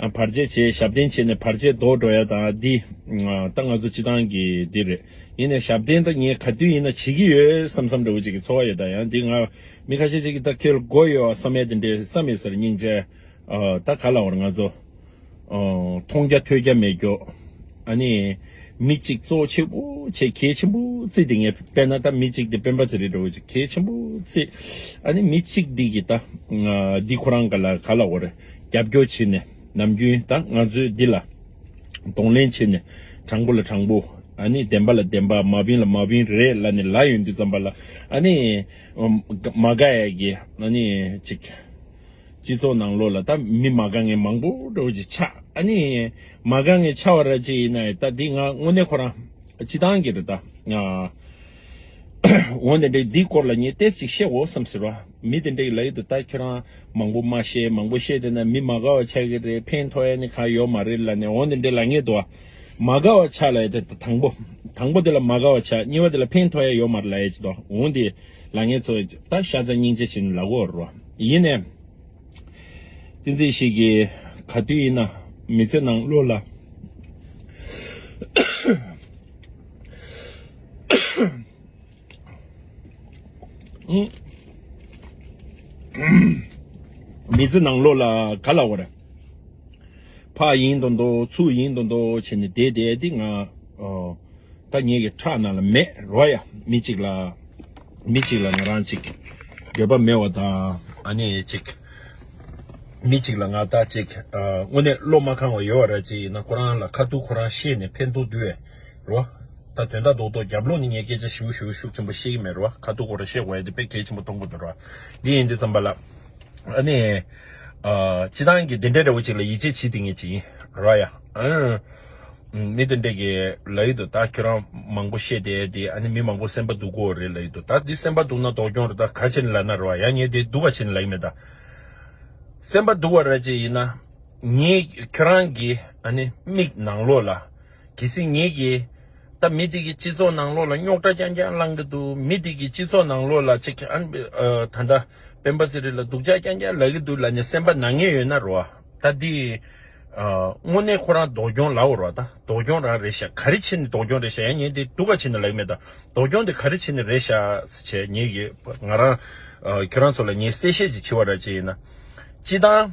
བར་ཆད་བྱས་ཞབས་བརྟན་བྱས་ནས་བར་ཆད་ལྡོག་འགྲོ་ཡ་དང་འདི། ད་ང་ཚོ་སྤྱི་དང་གི་འདི་རེད་ཡིན་ནས་ཞབས་བརྟན་ད་ངས་ག་དུས་ཡིན་ན་བྱེད་ཀྱི་ཡོད་བསམ་བསམ་འདྲ་བོ་ཅིག་གི་ཚོར་བ་ཡོད་ད་ཡང་འདི་ང་མི་ཁ་ཤས་ཤིག་གི་ད་ཁེལ་དགོས་ཡོད་བསམ་མེད་དེ་འདྲའི་བསམ་མེད་ཟེར་སྙིང་རྗེ། ད་ག་ལ་བར་ང་ཚོ། མཐོང་རྒྱ་ཐོས་རྒྱ་མེད་རྒྱོགས། ཨ་ནི། མི་གཅིག་གཙོ་བོ་ཆེ་པོ་ཆེ་གལ་ཆེན་པོ་རྩི་འདི་ངས་དཔེར་ན་ད་མི་གཅིག་འདི་སྤེན་པ་ཚེ་རིང་འདྲ་བོ་ཅིག་གལ་ཆེན་པོ་རྩི། ཨ་ནི་མི་གཅིག་འདི་གི་ད། འདི་ཁོ་རང་ག་ལ་ག་ལ་བར། རྒྱབ་སྐྱོར་བྱེད་ནས་ནམ་རྒྱུན་དང་ང་ཚོས་འདི་ལ་གདོང་ལེན་བྱེད་ནས་དྲང་པོ་ལ་དྲང་པོ་ཨ་ནི་བདེན་པ་ལ་བདེན་པ་མ་བིན་ལ་མ་བིན་རེད་ལ་ནི་ལ་ཡོད་འདི་ཙམ་པ་ལ་ཨ་ནི་མ་དགའ་ཡ་གི་ཨ་ནི་ཅིག་སྤྱི་ཚོགས་ནང་ལོག་ལ་ད་མི་མ་དགའ་ངན་མང་པོ་འགྲོ་ཅིག་ཆ་ཨ་ནི་མ་དགའ་ངན་ཆ་བ་ར་ཅིག་ཡིན་ན་ད་འདི་ང་དངོས་གནས་ཁོ་རང་སྤྱི་ཐང་གི་རེད་ད་ང། འོན་ཏེ་འདིའི་སྐོར་ལ་ངས་ཏེས་ཅིག་བཤད་འོས་སམ་ཟེར་བ། མི་དེ་འདྲས་ལ་ཡོད་དོ་ད་ཁྱོད་རང་མང་པོ་མ་བཤད་མང་པོ་བཤད་དེ་ན་མི་མ་དགའ་བ་ཆགས་ཀྱི་རེད་ཕན་ཐོ་ཡ་ནི་གང་ཡོད་མ་རེད་ལ་ནས་འོན་ཏེ་འདྲས་ལ་ངས་དུ་བ། མ་དགའ་བ་ཆགས་ལ་ཡོད་དེ་ད་དང་པོ། དང་པོ་དེ་ལ་མ་དགའ་བ་ཆགས་གཉིས་པ་དེ་ལ་ཕན་ཐོ་ཡ་ཡོད་མ་རེད་ལ་ཡ་ཅི་དོ་འོན་ཏེ་ལ་ངས་ཚོ་ཡོད་ད་ཤ་ཚ་སྙིང་རྗེ་བྱིན་ལ་དགོས་རོ། ཡིན་ནས། ཏིན་ཙེ་ཞིག་གིས་ག་དུས་ཡིན་ན་མི་ཚེ་ནང་བློ་ལ། མི་ཚེ་ནང་ལོག་ལ་ག་ལ་འོར། ཕ་ཡིན་དུ་འདོད་ཚུ་ཡིན་དུ་འདོད་བྱས་ནས་བསྡད་བསྡད་དེ་ང་ད་ངེད་ཀྱི་ཁྲག་ནང་ལ་མེད་རོ་ཡ། མི་གཅིག་ལ་མི་གཅིག་ལ་ང་རང་གཅིག། འདོད་པ་མེད་བ་ད་ཨ་ནེ་གཅིག། མི་གཅིག་ལ་ང་ད་གཅིག། དངོས་གནས་བློ་མ་ཁང་བ་ཡོད་བ་ར་གཅིག་ཡིན་ན་ཁོ་རང་ལ་ཁ་ཐུག་ཁོ་རང་ཤེས་ནས་ཕན་ཐོག་དུས་བས། རོ། ད་དོན་དག་འདོག་འདོག་རྒྱབ་ལོགས་ནས་ངས་སྐད་ཆ་ཞིབ་བཞུགས་ཤུགས་ཆེན་པོ་བཤད་ཀྱི་མེད་རོ། ཁ་ཐུག་གོ་ར་བཤད་འོད་དེ་དཔེ་གལ་ཆེན་པོ་གཏོང་དགོས་འདུག་རོ། འདི་ཡིན་འདི་ཙམ་པ་ལ། ཨ་ནི། སྤྱི་བཏང་གི་དེ་འདྲས་རེ་བོ་ཅིག་ལ་ཡིད་ཆེས་བྱེད་དེ་ངེས་ཅིག་ཡིན་རོ། ཡ། མི་དེ་འདྲས་ཀྱི་ལ་ཡིད་དུ་ད་ཁྱོད་རང་མང་པོ་བཤད་དེ་དེ་ཨ་ནི་མི་མང་པོ་སེམས་པ་སྡུག་གོ་རེ་ལ་ཡིད་དུ་ད་འདི་སེམས་པ་སྡུག་ན་དོག་སྐྱོང་རེ་ད་ག་ཕྱིར་ལ་ན་རོ། ཡ་ངས་དེ་སྡུག་ག་ཕྱིར་ལ་ཡིན་མེད་ད། སེམས་པ་སྡུག་བ་ར་ཅིག་ཡིན་ན། ངས་ཁྱོད་རང་གི་ཨ་ནི་མིག་ནང་ལོགས་ལ། གལ་སྲིད་ངེད་ཀྱིས། ད་མི་དེ་གི་སྤྱི་ཚོགས་ནང་ལོགས་ལ་རྙོག་དྲ་རྐྱང་རྐྱང་བསླང་གི་འདུག་མི་དེ་གི་སྤྱི་ཚོགས་ནང་ལོགས་ལ་ཆེ་ག་ད་ལྟ་སྤེན་པ་ཚེ་རིང་ལ་སྡུག་ཅག་རྐྱང་རྐྱང་ལབ་ཀྱི་འདུག་ལ་ནི་སེམས་པ་ན་ངེས་ཡོད་ན་རོ། ད་འདི། དངོས་གནས་ཁོ་རང་ལྡོག་སྐྱོང་ལབ་རོགས་ད་ལྡོག་སྐྱོང་རང་རེད་ཤག་ག་རེ་བྱེད་ནི་ལྡོག་སྐྱོང་རེད་ཤག་ཡ་ངེད་འདི་དུ་ག་བྱེད་ནི་ལབ་ཀྱི་མེད་ད་ལྡོག་སྐྱོང་འདི་ག་རེ་བྱེད་ནི་རེད་ཤག་བྱས་ངེད་ཀྱིས་ང་རང། ཁྱོད་རང་ཚོ་ལ་ངས་གསལ་བཤད་ཅིག་བྱེད་བ་ར་ཅིག་ཡིན་ན། སྤྱི་བཏང།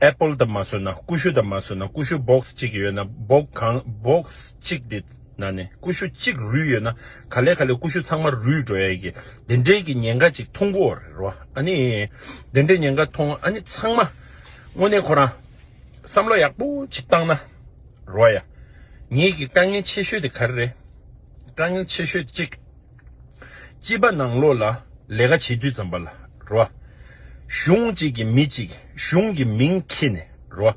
Apple དང་མ་བཟོས་ན་ཀུ་ཤུ་དང་མ་བཟོས་ན་ཀུ་ཤུ Box གཅིག་ཡོད་ན Box གང Box གཅིག་དེ་ན་ནས་ཀུ་ཤུ་གཅིག་རུལ་ཡོད་ན་ག་ལས་ག་ལས་ཀུ་ཤུ་ཚང་མ་རུལ་འགྲོ་ཡས་གི་དེ་འདྲའི་གི་ཉེན་ཁ་ཅིག་ཐོང་གོ་རེད་རོ་ཨ་ནི་དེ་འདྲའི་ཉེན་ཁ་ཐོང་ཨ་ནི་ཚང་མ་དངོས་གནས་ཁོ་རང་བསམ་བློ་ཡག་པོ་ཅིག་བཏང་ན་རོ་ཡ་ངེད་གི་དཀའ་ངལ་ཆེ་ཤོས་དེ་ག་རེ་རེད་དཀའ་ངལ་ཆེ་ཤོས་དེ་གཅིག། སྤྱི་པ་ནང་ལོགས་ལ་ལས་ཀ་བྱེད་དུས་ཙམ་པ་ལ་རོ། གཞུང་གཅིག་གི་མི་གཅིག་གཞུང་གི་མིང་འཁྱེར་ནས་རོ།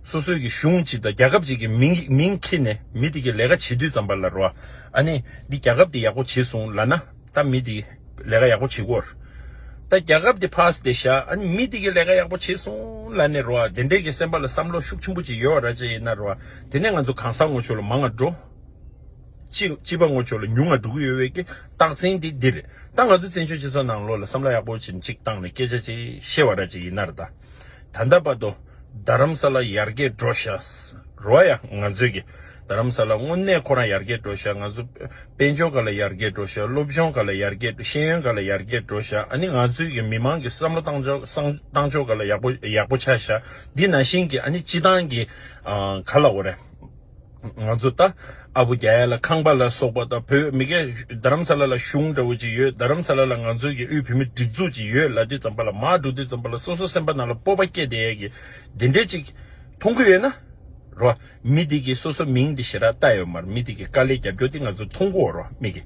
སོ་སོའི་གི་གཞུང་གཅིག་དང་རྒྱ་ཁབ་གཅིག་གི་མིང་འཁྱེར་ནས་མི་དེ་གི་ལས་ཀ་བྱེད་དུས་ཙམ་པ་ལ་རོ། ཨ་ནི་འདི་རྒྱ་ཁབ་དེ་ཡག་པོ་བྱེད་སོང་ལ་ན་ད་མི་དེ་ལས་ཀ་ཡག་པོ་བྱེད་གོར། ད་རྒྱ་ཁབ་དེ་ཕ་སྟེ་ཤ་ཨ་ནི་མི་དེ་གི་ལས་ཀ་ཡག་པོ་བྱེད་སོང་ལ་ནི་རོ། དེ་འདྲའི་གི་སེམས་པ་ལ་བསམ་བློ་ཤུགས་ཆེན་པོ་ཅིག་ཡོད་ར་ཅི་ཡིན་ན་རོ། དེ་ནས་ང་ཚོ་གང་ཟག་ངོ་ཆོས་ལ་མང་ང་འགྲོ། གཅིག་སྤྱི་པ་ངོ་ཆོས་ལ་ཉུང་ང་དྲུག་གི་ཡོད་བའི་ཀྱི་རྟགས་མཚན་དེ་འདིར་ད་ང་ཚོ་བཙན་བྱོལ་སྤྱི་ཚོགས་ནང་ལོག་ལ་བསམ་བློ་ཡག་པོ་བྱིན་ཅིག་བཏང་ནས་སྐད་ཆ་ཅིག་བཤད་བ་ར་ཅིག་ཡིན་ནར་ད་ད་ལྟ་བར་དུ་རྡ་རམ་ས་ལ་ཡར་རྒྱས་འགྲོ་བཞག་རོ་ཡ་ང་ཚོས་ཀྱི་རྡ་རམ་ས་ལ་དངོས་གནས་ཁོ་རང་ཡར་རྒྱས་འགྲོ་བཞག་ང་ཚོ་དཔལ་འབྱོར་ག་ལ་ཡར་རྒྱས་འགྲོ་བཞག་སློབ་སྦྱོང་ག་ལ་ཡར་རྒྱས་ཤེས་ཡོན་ག་ལ་ཡར་རྒྱས་འགྲོ་བཞག་ཨ་ནི་ང་ཚོས་ཀྱི་མི་མང་གི་བསམ་བློ་བཏང་བཏང་ཕྱོགས་ག་ལ་ཡག་པོ་ཡག་པོ་ཆགས་བཞག་འདི་ན་བཞིན་གྱི་ཨ་ནི་སྤྱི་བཏང་གི་ག་ལ་འོ་རེ། ང་ཚོ་ད་ཨ་བུ་རྒྱ་ཡ་ལ་ཁང་པ་ལ་སོགས་པ་དང་བོད་མི་གས་རྡ་རམ་ས་ལ་ལ་གཞུང་འདྲ་བོ་ཅིག་ཡོད་རྡ་རམ་ས་ལ་ལ་ང་ཚོའི་གས་དབུས་བོད་མི་སྒྲིག་འཛུགས་ཅིག་ཡོད་ལ་དེ་ཙམ་པ་ལ་མ་འགྲོ་དེ་ཙམ་པ་ལ་སོ་སོ་སེམས་པ་ན་ལ་སྤོབས་པ་སྐྱེས་དེ་ཡས་གས་དེ་འདྲས་ཅིག་མཐོང་གི་ཡོད་ན་རོ་མི་དེ་གས་སོ་སོ་མིང་དེ་ཞེ་རག་བཏགས་ཡོད་མར་མི་དེ་གས་དཀའ་ལས་རྒྱབ་སྐྱོ་དེ་ང་ཚོ་མཐོང་གོ་རོ་མི་གས་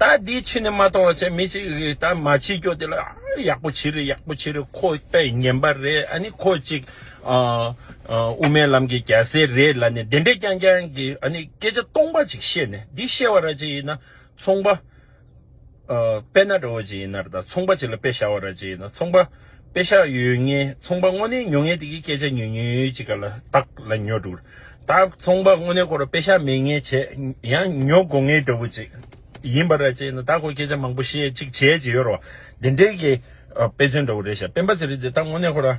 ད་དེ་ཕྱི་ནས་མ་མཐོང་བ་ཆད་མི་ཅིག་གས་ད་མ་བྱེད་སྐྱོ་དེ་ལ་ཨ་ཡག་པོ་བྱེད་རེ་ཡག་པོ་བྱེད་རེ་ཁོ་པས་ངན་པ་རེད་ཨ་ནི་ཁོ་ཅིག། དབུ་མའི་ལམ་གྱི་རྒྱལ་སྲས་རེད་ལ་ནི་བདེན་པའི་རྐྱང་རྐྱང་གི་སྐད་ཆ་སྟོང་པ་ཅིག་བཤད་ནས་འདི་བཤད་བ་ར་ཅིག་ཡིན་ན་ཚོང་པ་དཔེ་ན་རོ་ཅིག་ཡིན་ནར་ད་ཚོང་པ་ཅིག་ལ་དཔེ་བཞག་བ་ར་ཅིག་ཡིན་ན་ཚོང་པ་དཔེ་བཞག་ཡོད་ངེས་ཚོང་པ་དངོས་གནས་ཉོ་ངེས་དེ་གི་སྐད་ཆ་ཉོས་ཉོས་ཅིག་ག་ལ་དག་ལ་ཉོ་འགྲོ་ད་ཚོང་པ་དངོས་གནས་སྐོར་དཔེ་བཞག་མེད་ངེས་བྱས་ཡང་ཉོ་དགོ་ངེས་འདྲ་བོ་ཅིག་ཡིན་པ་ར་ཅིག་ཡིན་ན་ད་ཁོ་སྐད་ཆ་མང་པོ་བཤད་ཅིག་བྱས་ཅིག་ཡོད་རོ་བདེན་འགྲེལ་གྱི་དཔེ་མཚོན་འདྲ་བོ་རེད་བཞག་སྤེན་པ་ཚེ་རིང་དེ་ད་དངོས་གནས་ཁོ་ར།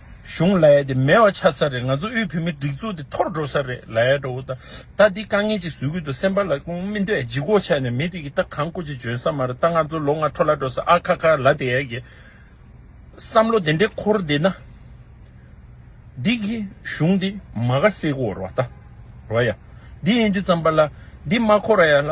གཞུང་ལ་ཡ་དེ་མེད་བ་ཆགས་ས་རེད་ང་ཚོ་དབུས་བོད་མི་སྒྲིག་འཛུགས་དེ་འཐོར་འགྲོ་ས་རེད་ལ་ཡ་འགྲོ་འུ་ད་ལྟ་འདི་དཀའ་ངལ་ཅིག་བཟོས་ཁུལ་དུ་སེམས་པ་ལ་ཀུན་སྨིན་དུ་ཡ་ལྗིད་གོ་ཆགས་ནས་མི་དེ་གི་ད་གང་སྐུ་ཅིག་འཇོན་ས་མ་རེད་ད་ང་ཚོ་ལོ་ལྔ་འཕྲོ་ལ་འགྲོ་ས་ཨ་ཁ་ཁ་ལ་དེ་ཡ་གི་བསམ་བློ་དེ་འདྲས་འཁོར་བསྡད་ན་འདི་གི་གཞུང་འདི་མ་ག་སེ་གོ་ར་བ་ད་ར་བ་ཡ་འདི་ཡིན་འདི་ཙམ་པ་ལ་འདི་མ་གོ་ར་ཡ་ལ།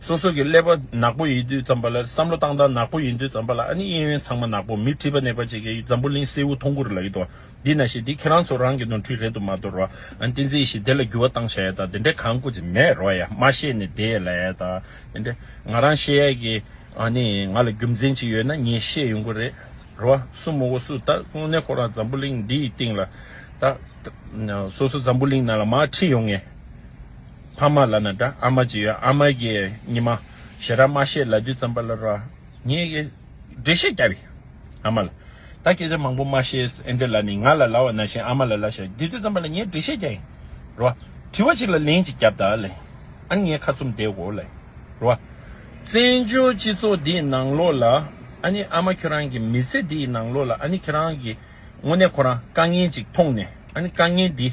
སོ་སོ་གི་ཀླད་པ་ནག་པོ་ཡིན་དུས་ཙམ་པ་ལ་བསམ་བློ་བཏང་སྟངས་ནག་པོ་ཡིན་དུས་ཙམ་པ་ལ་ཨ་ནི་གཡས་གཡོན་ཚང་མ་ནག་པོ་མི་ཁྲི་པ་ནད་པ་བྱེད་མཁན་འཛམ་བུ་གླིང་སེའུ་ཐོང་གུར་ལ་ཡོད་དོ་འདི་ན་ཞེས་འདི་ཁྱེད་རང་ཚོ་རང་གི་ནོར་འཁྲུལ་རེད་དོ་མ་དོ་རོ་ཨ་ནི་བསྟན་འཛིན་ཞེས་དེ་ལ་འགྱུར་བ་བཏང་བྱ་ཡས་དང་དེ་འདྲའི་གང་སྐུ་ཚེ་མེད་རོ་ཡས་མ་ཤེས་ནས་དེ་ཡས་ལ་ཡས་དང་དེ་འདྲའི་ང་རང་ཤེས་ཡས་ཀྱི་ཨ་ནི་ང་ལ་རྒྱུ་མཚན་ཅིག་ཡོད་ན་ངས་ཤེས་ཡོང་གི་རེད་རོ་སུ་མོ་བོ་སུ་ད་དངོས་གནས་ཁོ་རང་འཛམ་བུ་གླིང་འདི་ཡི་སྟེང་ལ་ད་སོ་སོ་འཛམ་བུ་གླིང་ནང་ལ་མ་ཁྲི་ཡོང་ངས། ཕ་མ་ལ་ན་དགྲ་ཨ་མ་ཇི་ཡོད་ཨ་མ་གི་ཉི་མ་ཞེ་ར་མ་ཤེས་ལ་དུས་ཙམ་པ་ལ་རོ་ངས་ཀྱི་འགྲེལ་བཤད་བརྒྱབ་ཡིན་ཨ་མ་ལ་ད་སྐད་ཆ་མང་པོ་མ་བཤད་ཨེ་འདྲ་ལ་ནི་ང་ལ་ལ་བ་ན་ཤེས་ཨ་མ་ལ་ལ་ཤེས་དེ་དུས་ཙམ་པ་ལ་ངས་འགྲེལ་བཤད་བརྒྱབ་ཡིན་རོ་དྲི་བ་ཅིག་ལ་ལན་ཅིག་བརྒྱབ་དང་ལེ་ཨ་ངས་ཁ་ཚུམ་བསྡད་གོ་ལེ་རོ་བཙན་བྱོལ་སྤྱི་ཚོགས་འདི་ཡི་ནང་ལོགས་ལ་ཨ་ནི་ཨ་མ་ཁྱོད་རང་གི་མི་ཚེ་འདི་ཡི་ནང་ལོགས་ལ་ཨ་ནི་ཁྱེད་རང་གི་དངོས་གནས་ཁོ་རང་དཀའ་ངལ་ཅིག་མཐོང་ནས་ཨ་ནི་དཀའ་ངལ་འདི།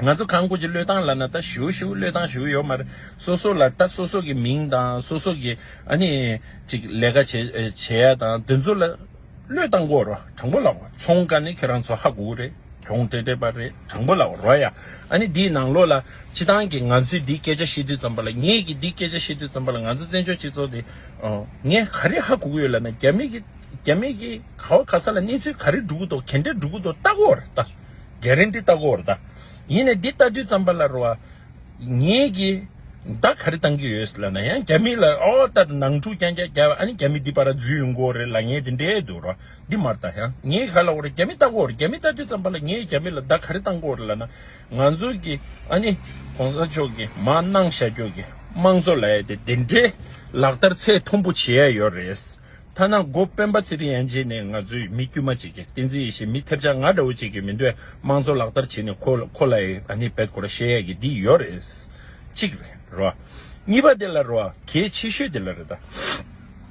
ང་ཚོ་གང་དགོས་ཀྱི་བློས་བཏང་ལ་ན་ད་ཞུ་ཞུ་བློས་བཏང་ཞུ་ཡོད་མ་རེད། སོ་སོ་ལ་ད་སོ་སོ་གི་མིང་དང་སོ་སོ་གི་ཨ་ནི་ཅིག་ལས་ཀ་བྱས་ཡ་དང་དེ་ཚོ་ལ་བློས་བཏང་དགོས་རོ་དྲང་པོ་ལགས་ཚོང་ཀ་ནི་ཁྱེད་རང་ཚོ་ཧ་གོ་རེད་གྱོང་དྲེ་དྲེ་པ་རེད་དྲང་པོ་ལགས་རོ་ཡ་ཨ་ནི་འདིའི་ནང་ལོགས་ལ་སྤྱི་སྟངས་ཀྱི་ང་ཚོས་འདི་སྐད་ཆ་བཤད་དུས་ཙམ་པ་ལ་ངེད་ཀྱི་འདི་སྐད་ཆ་བཤད་དུས་ཙམ་པ་ལ་ང་ཚོ་བཙན་བྱོལ་སྤྱི་ཚོགས་འདི་ངས་ག་རེ་ཧ་གོ་གི་ཡོད་ལ་ན་རྒྱ་མི་གི་རྒྱ་མི་གི་ག་བ་ག་ས་ལ་གནས་ཚུལ་ག་རེ་འགྲོ་གི་འདུག་གན་འདྲེ་འགྲོ་གི་འདུག་ལྟ་དགོས་རེད་ལྟ། རྒྱ་རིང་འདི་ལྟ་གོ་ར། ཡིན་ནས་འདི་ལྟ་དུས་ཙམ་པ་ལ་རོ། ངེད་ཀྱིས་བདག་ག་རེ་བཏང་གི་ཡོད་ལ་ན་ཡང་རྒྱ་མི་ལ་ཨོ་ཨོ་ལྟ་ནང་འཁྲུག་རྐྱང་རྐྱང་རྒྱག་ཨ་ནི་རྒྱ་མི་འདི་པ་ར་རྫུས་ཡོང་གོ་རེ་ལ་ངེད་དེ་འདྲས་འདུག་ར་འདི་མར་ལྟ་ཡང་ངེད་ག་ལ་འོ་ར་རྒྱ་མི་ལྟ་གོ་ར་རྒྱ་མི་ལྟ་དུས་ཙམ་པ་ལ་ངེད་རྒྱ་མི་ལ་བདག་ག་རེ་བཏང་གོ་རེ་ལ་ན་ང་ཚོ་གི་ཨ་ནི་གོང་ས་མཆོག་གི་མ་གནང་བཞག་རྒྱོ་གི་དམངས་གཙོ་ལ་ཡ་དེ་དེ་འདྲས་ལག་བསྟར་ཚད་མཐོན་པོ་བྱེད་ཡ་ཡོད་རེད་ཐ་ན་མགོ་སྤེན་པ་ཚེ་རིང་ཡན་ཆད་ནས་ང་ཚོས་མི་དཀྱུས་མ་གཅིག་གིས་བསྟན་འཛིན་ཡེ་ཤེས་མི་ཐེབས་ཆག་ང་འདྲ་བོ་གཅིག་གིས་མི་འདོད་དམངས་གཙོ་ལག་བསྟར་བྱས་ནས་ཁོ་ལ་ནི་བེད་ཁོ་ར་བཤད་ཡག་གི་འདི་ཡོད་རེད། གཅིག་རེད་རོ། གཉིས་པ་དེ་ལ་རོ། གལ་ཆེ་ཤོས་དེ་ལ་རེད་ད།